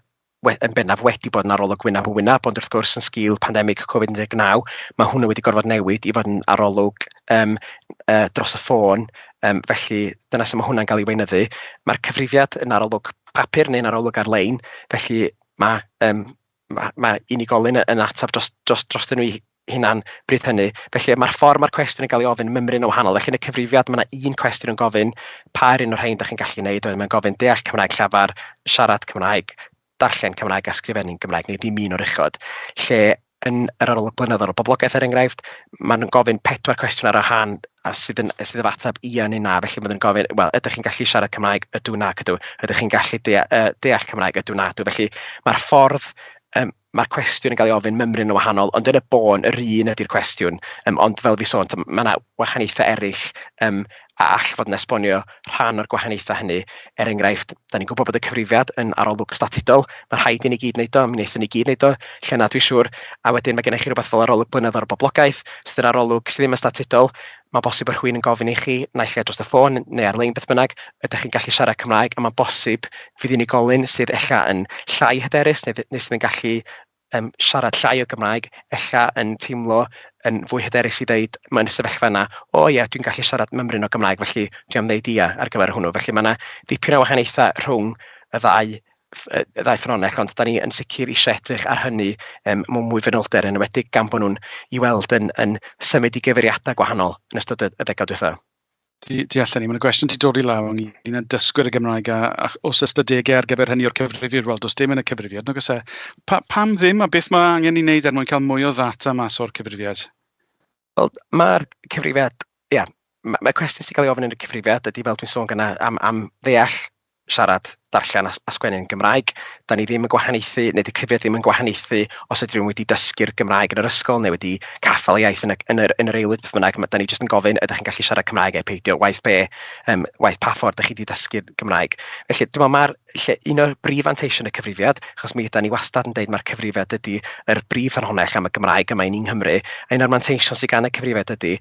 we- yn bennaf wedi bod yn arolwg wyneb yn wyneb, ond wrth gwrs yn sgil pandemig Covid19, mae hwnnw wedi gorfod newid i fod yn arolwg yym yy dros y ffôn, yym felly dyna sut mae hwnna'n cael ei weinyddu. Mae'r cyfrifiad yn arolwg papur neu'n arolwg ar-lein, felly ma' yym ma' ma' unigolyn y- yn ateb dros dros drostyn nhw eu hunain bryd hynny. Felly ma'r ffordd ma'r cwestiwn yn cael ei ofyn yn mymryn yn wahanol. Felly yn y cyfrifiad ma' 'na un cwestiwn yn gofyn pa un o'r rhain dach chi'n gallu wneud, wedyn mae'n gofyn deall Cymraeg llafar, siarad Cymraeg, darllen Cymraeg a sgrifennu'n Gymraeg, neu ddim un o'r uchod. Lle yn yr arolwg blynyddol o boblogaeth er enghraifft, maen nhw'n gofyn pedwar cwestiwn ar wahân. a sydd yn sydd efo ateb ia neu na, felly maen nhw'n gofyn, wel, ydych chi'n gallu siarad Cymraeg? Ydw, nac ydw. Ydych chi'n gallu dea, uh, deall Cymraeg? Ydw, na, ydw. Felly mae'r ffordd, um, mae'r cwestiwn yn cael ei ofyn mymryn yn wahanol, ond yn y bôn, yr un ydy'r cwestiwn. Um, ond fel fi sôn, mae yna wahaniaethau eraill um, a all fod yn esbonio rhan o'r gwahaniaethau hynny. Er enghraifft, dan ni'n gwybod bod y cyfrifiad yn arolwg statudol, mae'n rhaid i ni gyd wneud o, mi wnaethon ni gyd wneud o lle 'na dwi'n siŵr, a wedyn mae gennych chi rywbeth fel arolwg blynyddol boblogaeth, sydd yn arolwg sydd ddim yn statudol, mae'n bosib bod rhywun yn gofyn i chi, naill ai dros y ffôn neu ar-lein beth bynnag, ydych chi'n gallu siarad Cymraeg, a mae'n bosib fydd unigolyn sydd ella yn llai hyderus neu neu sydd yn gallu yn siarad llai o Gymraeg, ella yn teimlo yn fwy hyderus i ddeud mewn y sefyllfa yna, "o ie, dwi'n gallu siarad mymryn o Gymraeg, felly dwi am ddeud ia ar gyfer hwnnw". Felly mae 'na dipyn o wahaniaethau rhwng y ddau ff- yy y ddau ffynonell, ond dan ni yn sicr eisiau edrych ar hynny yym mewn mwy fanylder, yn enwedig gan bod nhw'n... i'w weld yn yn symud i gyfeiriadau gwahanol yn ystod y y degawd diwethaf. Tu tu allan i. Mae 'na gwestiwn 'di dod i law ynglŷn â dysgwyr y Gymraeg a a oes ystadegau ar gyfer hynny o'r cyfrifiad? Wel, does dim yn y cyfrifiad, nag oes e? Pa- Pam ddim a beth mae angen i wneud er mwyn cael mwy o ddata mas o'r cyfrifiad? Wel, mae'r cyfrifiad, ia, mae ma' cwestiwn sy'n cael ei ofyn yn y cyfrifiad ydy, fel dwi'n sôn gyna, am am ddeall siarad, darllen a sgwennu yn Gymraeg. Dan ni ddim yn gwahaniaethu, neu 'di cyfrifiad ddim yn gwahaniaethu os ydy rhywun wedi dysgu'r Gymraeg yn yr ysgol neu wedi caffael y iaith yn y yn yr yn yr aelwyd beth bynnag, ma' dan ni jyst yn gofyn ydych chi'n gallu siarad Cymraeg neu peidio, waeth be yym waeth pa ffordd dych chi wedi dysgu'r Gymraeg. Felly dwi'n meddwl ma'r lle un o'r brif fanteision y cyfrifiad, achos mi ydan ni wastad yn deud mae'r cyfrifiad ydy yr brif ffynhonnell am y Gymraeg yma i ni yng Nghymru, a un o'r manteision sydd gan y cyfrifiad ydy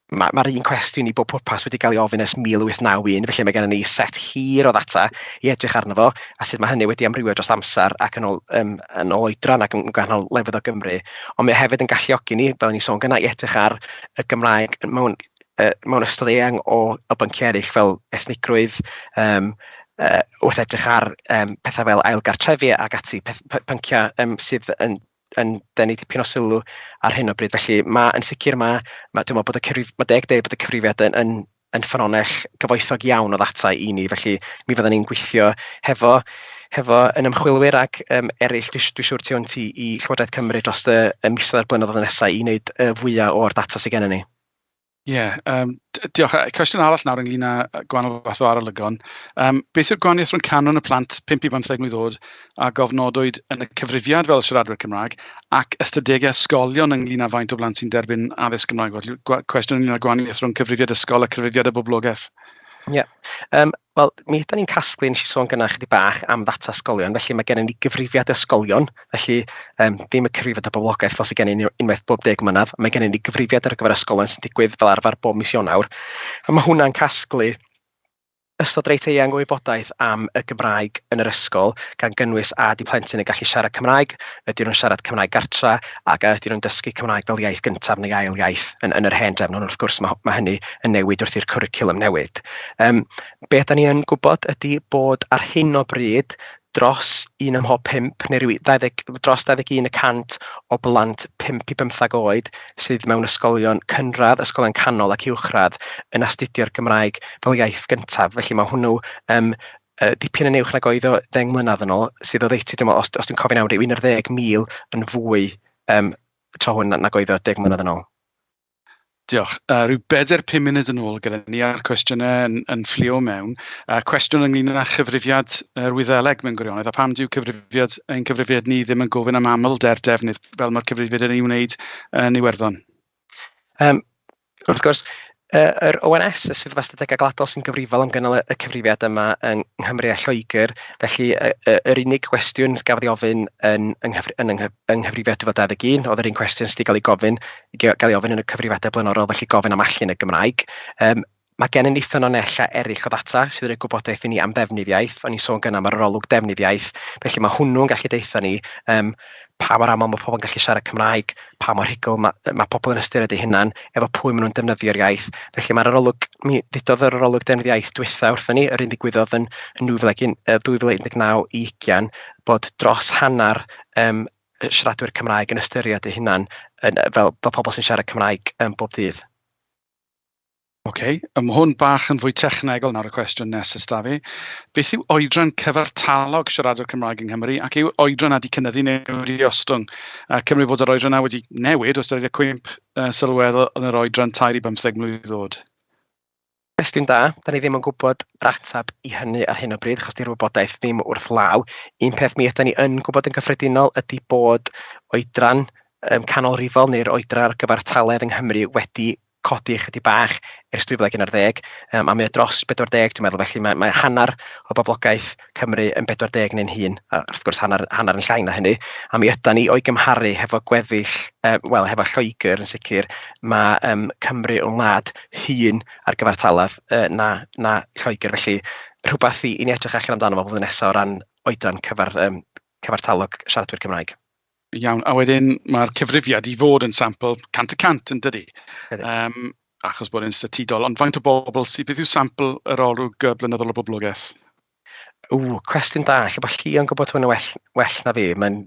Mae, mae'r un cwestiwn i bob pwrpas wedi cael ei ofyn ers 1891, felly mae gennym ni set hir o ddata i edrych arno fo, a sut mae hynny wedi amrywio dros amser ac yn ôl, um, yn ôl oedran ac yn gwahanol lefydd o Gymru. Ond mae hefyd yn galluogi ni, fel ni'n sôn gyna, i edrych ar y Gymraeg mewn, uh, mewn ystod eang o, o bynciau eraill fel ethnigrwydd, um, uh, wrth edrych ar um, pethau fel ailgartrefi ac ati, peth, pynciau um, sydd yn yn denu dipyn o sylw ar hyn o bryd. Felly ma' yn sicr ma' ma' dwi meddwl bod y cyfrif- ma' deg deud bod y cyfrifiad yn yn yn ffynhonnell gyfoethog iawn o ddata i ni, felly mi fyddan ni'n gweithio hefo hefo yn ymchwilwyr ac yym eraill dwi s- dwi siŵr tu hwnt i i Llywodraeth Cymru dros y y misoedd a'r blynyddoedd nesaf i wneud y fwya' o'r data sy gennyn ni. Ie yym d- diolch. A cwestiwn arall nawr ynglyn â yy gwahanol fath o arolygon yym beth yw'r gwahaniaeth rhwng canran y plant pump i bymtheg mlwydd oed a gofnodwyd yn y cyfrifiad fel siaradwyr Cymraeg ac ystadegau ysgolion ynglyn â faint o blant sy'n derbyn addysg Gymraeg? Felly gwa- cwestiwn ynglyn â'r gwahaniaeth rhwng cyfrifiad ysgol a chyfrifiad y boblogaeth. Ie, yym wel mi ydan ni'n casglu, wnes i sôn gynna chydig bach am ddata ysgolion, felly mae gennym ni gyfrifiad ysgolion, felly yym dim y cyfrifiad o boblogaeth fel sydd gennym ni unwaith bob deg mlynedd, mae gennym ni gyfrifiad ar gyfer ysgolion sy'n digwydd fel arfer bob mis Ionawr, a mae hwnna'n casglu ystod reit eang o wybodaeth am y Gymraeg yn yr ysgol, gan gynnwys a ydy plentyn yn gallu siarad Cymraeg, ydyn nhw'n siarad Cymraeg gartra, ac a ydyn nhw'n dysgu Cymraeg fel iaith gyntaf neu ail iaith yn yn yr hen drefn, ond wrth gwrs ma' ma' hynny yn newid wrth i'r cwricwlwm newid. Yym be ydan ni yn gwybod ydy bod ar hyn o bryd dros un ym mhob pump neu ryw 20 dros 21 y cant o blant 5 i bymthag oed sydd mewn ysgolion cynradd, ysgolion canol ac uwchradd yn astudio'r Gymraeg fel iaith gyntaf. Felly mae hwnnw yym yy dipyn yn uwch nag oedd o ddeng mlynedd yn ôl, sydd oddeutu, dwi'n meddwl, os os dwi'n cofio'n iawn, ryw 11,000 yn fwy yym tro hwn na- nag oedd o deg mlynedd yn ôl. Diolch. Uh, rhyw bedair pum munud yn ôl gyda ni a'r cwestiynau yn, yn fflio mewn. Uh, cwestiwn ynglyn â chyfrifiad yr Wyddeleg mewn gwirionedd, a pam dyw cyfrifiad, ein cyfrifiad ni ddim yn gofyn am aml der defnydd fel mae'r cyfrifiad yn ei wneud yn Iwerddon? Um, Wrth gwrs, yy yr ONS, y Swyddfa Ystadegau Gwladol, sy'n gyfrifol am gynnal y cyfrifiad yma yng Nghymru a Lloegr, felly y y yr unig gwestiwn gafodd ei ofyn yn yng nghyfri- yn yng nghyf- yng nghyfrifiad 2021 oedd yr un cwestiwn sy 'di cael ei gofyn i ga- gael ei ofyn yn y cyfrifiadau blaenorol, felly gofyn am allu yn y Gymraeg. Yym ma' gennym ni ffynonellau eraill o ddata sydd yn rhoi gwybodaeth i ni am ddefnydd iaith, o'n i'n sôn gynna am yr arolwg defnydd iaith, felly ma' hwnnw'n gallu deutha ni yym pa mor aml mae pobl yn gallu siarad Cymraeg, pa mor rhugl ma' yy ma' pobl yn ystyried eu hunain, efo pwy maen nhw'n defnyddio'r iaith. Felly mae'r arolwg, mi ddudodd yr arolwg Deddf Iaith dwytha wrthyn ni, yr un ddigwyddodd yn yn 2019 yy 2019 i ugian, bod dros hanner yym y siaradwyr Cymraeg yn ystyried eu hunain yn yy fel fel pobl sy'n siarad Cymraeg yym bob dydd. Ok, a ma' hwn bach yn fwy technegol nawr y cwestiwn nesaf da fi. Beth yw oedran cyfartalog siaradwr Cymraeg yng Nghymru ac yw oedran wedi cynyddu neu wedi ostwng? A Cymru bod yr oedran yna wedi newid os dydy cwymp uh, sylweddol yn yr oedran 3 i 15 mlynedd ddod? Cwestiwn da, da ni ddim yn gwybod yr ateb i hynny ar hyn o bryd, achos di'r wybodaeth ddim wrth law. Un peth mi ydym ni yn gwybod yn gyffredinol ydy bod oedran um, canolrifol neu'r oedran ar gyfartaledd yng Nghymru wedi codi ychydig bach ers 2011, yym a mae o dros 40 dwi'n meddwl, felly mae mae hanner o boblogaeth Cymru yn 40 neu'n hŷn, a wrth gwrs hanner hanner yn llai na hynny, a mi ydan ni o'i gymharu hefo gweddill yy wel hefo Lloegr yn sicr, mae yym Cymru yn wlad hŷn ar gyfartaledd yy na na Lloegr, felly rhywbeth i i ni edrych allan amdano fo flwyddyn nesa o ran oedran cyfar- yym cyfartalog siaradwyr Cymraeg. Iawn, a wedyn mae'r cyfrifiad i fod yn sampl 100 y cant yn dydi? Ydy. Um, achos bod e'n statudol, ond faint o bobl sydd, beth yw sampl yr olwg blynyddol o boblogaeth? Ww, cwestiwn da, lle bod Llio'n gwybod hwn yn well, well na fi, mae'n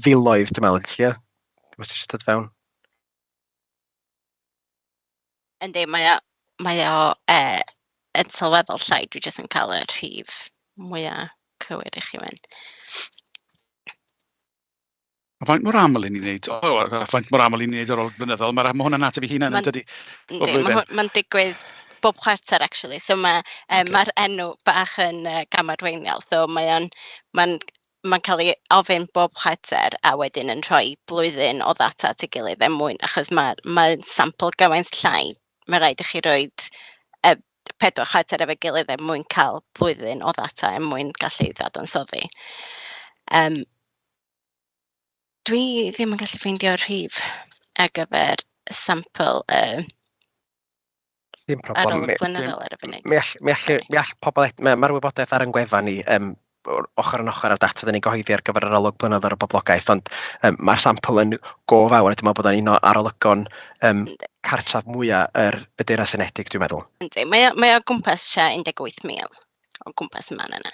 filoedd dwi'n meddwl, Llio, os eisiau dod fewn. Yndi, mae o mae o yy yn sylweddol llai, dwi jyst yn cael y rhif mwya cywir i chi ŵan. A faint mor aml 'y ni'n wneud o? O a faint mor aml 'y ni'n wneud o ar ôl blynyddoedd? Ma' ra- ma' hwnna'n ateb ei hunan yn dydi? Ma'n yndi ma' hwn ma'n digwydd bob chwarter actually so ma' yym ma'r enw bach yn yy gamarweiniol so mae o'n ma'n mae'n cael ei ofyn bob chwarter a wedyn yn rhoi blwyddyn o ddata at ei gilydd er mwyn, achos mae, mae sampl gymaint llai, mae rhaid i chi roi uh, pedwar chwarter efo'i gilydd er mwyn cael blwyddyn o ddata er mwyn gallu ddadansoddi. Um, dwi ddim yn gallu ffeindio'r rhif ar gyfer y sampl uh, Dim problem. Ar ôl y blynyddol ar y funud. Mi all, mi all, mi all pobl... Mae'r ma wybodaeth ar yn gwefan ni um, ochr yn ochr â'r data dyn ni'n gyhoeddi ar gyfer yr olwg blynyddol ar y boblogaeth, ond um, mae'r sampl yn go fawr, a dwi'n meddwl bod o'n un o arolygon um, cartref mwyaf yr y Deyrnas Unedig, dwi'n meddwl. Yndi, mae o, mae o gwmpas 18,000 o gwmpas y man yna.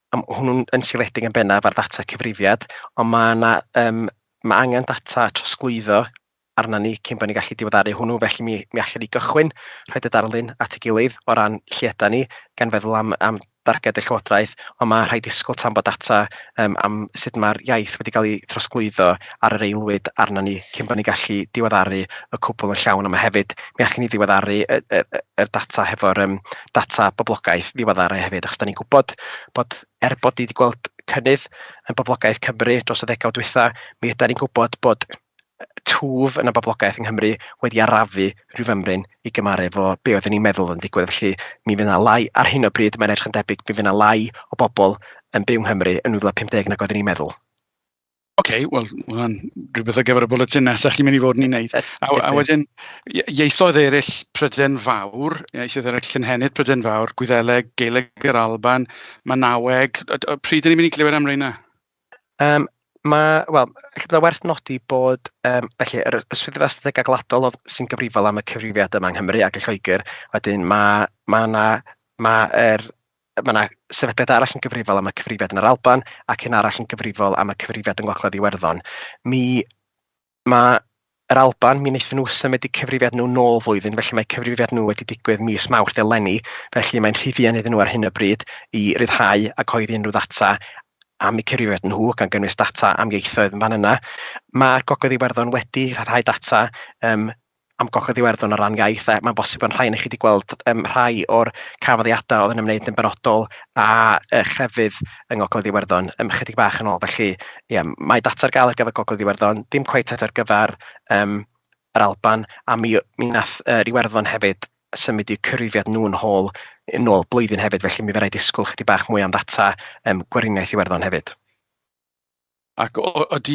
A ma' hwnnw'n yn seiliedig yn bennaf ar ddata cyfrifiad, ond ma' 'na yym... ma' angen data trosglwyddo arnon ni cyn bod ni'n gallu diweddaru hwnnw, felly mi mi allwn ni gychwyn rhoid y darlun at ei gilydd o ran lle ydan ni, gan feddwl am am darged y Llywodraeth, ond ma' rhaid disgwyl tan bod data yym am sut ma'r iaith wedi cael ei throsglwyddo ar yr aelwyd arnon ni cyn bod ni'n gallu diweddaru y cwbl yn llawn, a ma' hefyd, mi allwn ni ddiweddaru y y y y data hefo'r yym data boblogaeth ddiweddar hefyd, achos dan ni'n gwybod bod, er bod ni wedi gweld cynnydd yn boblogaeth Cymru dros y ddegawd dwytha, mi ydan ni'n gwybod bod twf yn y boblogaeth yng Nghymru wedi arafu rhyw fymryn i gymaru efo be oedden ni'n meddwl yn digwydd. Felly mi fydd yna lai ar hyn o bryd, mae'n edrych yn debyg, mi fydd yna lai o bobl yn byw yng Nghymru yn 2050 nag oedden ni'n meddwl. Ok wel ma' hwnna'n rywbeth ar gyfer y bwletin nesa chi'n mynd i fod yn ei wneud. A a wedyn ie- ieithoedd eraill Prydain Fawr, ieithoedd eraill cynhenid Prydain Fawr, Gwyddeleg, Gaeleg yr Alban, Manaweg. Yy d- pryd 'y ni'n mynd i glywed am reina? Yym ma' wel ella bod o'n werth nodi bod yym felly yr y Swyddfa Ystadegau Gwladol oedd sy'n gyfrifol am y cyfrifiad yma yng Nghymru ac yn Lloegr, wedyn ma' ma' 'na ma' yr Mae 'na sefydliad arall yn gyfrifol am y cyfrifiad yn yr Alban ac un arall yn gyfrifol am y cyfrifiad yng Ngogledd Iwerddon. Mi ma' yr Alban, mi wnaethon nhw symud eu cyfrifiad nhw nôl flwyddyn, felly mae cyfrifiad nhw wedi digwydd mis Mawrth eleni, felly mae'n rhy fuan iddyn nhw ar hyn o bryd i ryddhau a cyhoeddi unrhyw ddata am eu cyfrifiad nhw, gan gynnwys data am ieithoedd yn fan yna. Mae Gogledd Iwerddon wedi rhyddhau data um, am Gogledd Iwerddon o ran iaith, a mae'n bosib bod rhai ohonoch chi wedi gweld um, rhai o'r canfyddiadau oedd yn ymwneud yn benodol â uh, chrefydd yng Ngogledd Iwerddon um, chydig bach yn ôl. Felly, yeah, mae data ar gael ar gyfer Gogledd Iwerddon, dim cweith ar gyfer um, yr Alban, a mi, mi nath uh, Iwerddon hefyd symud i'w cyfrifiad nhw'n hôl yn ôl blwyddyn hefyd, felly mi fe rai disgwyl chydig bach mwy am ddata um, gweriniaeth Iwerddon hefyd. Ac o- odi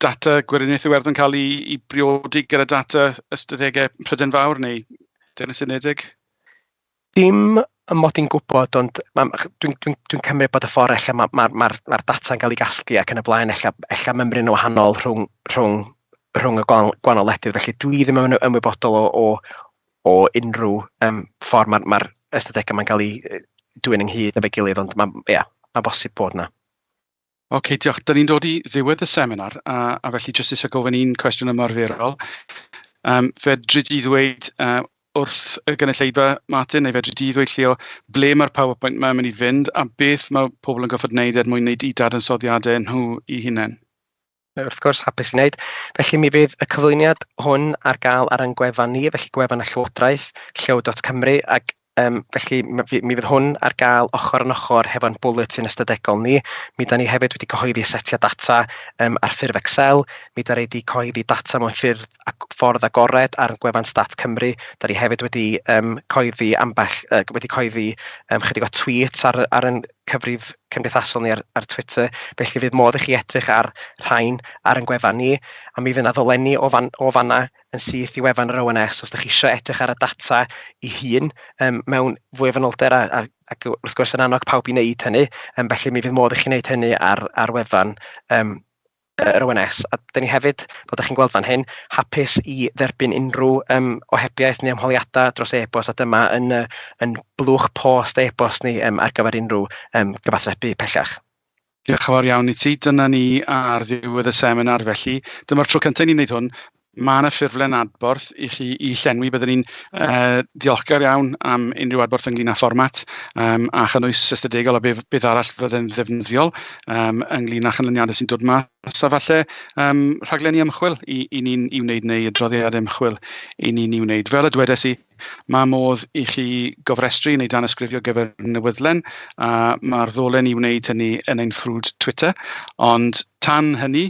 data Gweriniaeth Iwerddon yn cael ei ei briodi gyda data ystadegau Prydain Fawr neu Deyrnas Unedig? Dim ym mod i'n gwybod, ond ma' ma' ch- dwi'n dwi'n dwi'n cymryd bod y ffordd ella ma' ma'r ma'r ma'r data'n cael ei gasglu ac yn y blaen ella ella mymryn yn wahanol rhwng rhwng rhwng y gwan- gwahanol wledydd. Felly dwi ddim yn ymwybodol o o o unrhyw yym ffordd ma'r ma'r ystadegau ma'n cael eu yy dwyn ynghyd efo'i gilydd, ond ma' ia, ma'n bosib bod 'na. Ok, diolch. Dyn ni'n dod i ddiwedd y seminar a a felly jyst isie gofyn un cwestiwn ymarferol. Yym fedri di ddweud yy wrth y gynulleidfa Martin, neu fedri di ddweud Llio, ble mae'r PowerPoint 'ma yn mynd i fynd a beth mae pobl yn gorfod wneud er mwyn wneud eu dadansoddiadau nhw eu hunain? wrth gwrs, hapus i wneud. Felly mi fydd y cyflwyniad hwn ar gael ar ein gwefan ni, felly gwefan y Llywodraeth, llyw.cymru, ac um, felly mi, mi fydd hwn ar gael ochr yn ochr hefo'n bwletin ystadegol ni. Mi da ni hefyd wedi cyhoeddi setiau data um, ar ffurf Excel, mi da ni wedi cyhoeddi data mewn ffyrdd ac ffordd agored ar gwefan Stat Cymru, da ni hefyd wedi um, cyhoeddi ambell, uh, wedi cyhoeddi um, chydig o tweets ar, ar, ar, cyfrif cymdeithasol ni ar ar Twitter, felly fydd modd i chi edrych ar rhain ar ein gwefan ni, a mi fydd 'na ddolenni o fan o fan'na yn syth i wefan yr ONS os dach chi isio edrych ar y data ei hun yym mewn fwy o fanylder a a ac wrth gwrs yn annog pawb i wneud hynny, yym felly mi fydd modd i chi wneud hynny ar ar wefan yym yr ONS, a dan ni hefyd, fel dach chi'n gweld fan hyn, hapus i dderbyn unrhyw yym ohebiaeth neu ymholiadau dros e-bost, a dyma yn y yn blwch post e-bost ni yym ar gyfer unrhyw yym gyfathrebu pellach. Diolch yn fawr iawn i ti. Dyna ni ar ddiwedd y seminar felly. Dyma'r tro cyntaf i ni'n wneud hwn. Mae yna ffurflen adborth i chi i llenwi. Byddwn ni'n uh, ddiolchgar iawn am unrhyw adborth ynglyn â fformat um, a chynnwys ystadegol a beth, beth arall fydde'n ddefnyddiol um, ynglyn â chynlyniadau sy'n dod mas a falle um, rhaglenni ymchwil i, i ni'n i wneud neu adroddiad ymchwil i ni'n i wneud. Fel y dwedes i, mae modd i chi gofrestru neu dan ysgrifio gyfer newyddlen a mae'r ddolen i wneud hynny yn ein ffrwd Twitter. Ond tan hynny,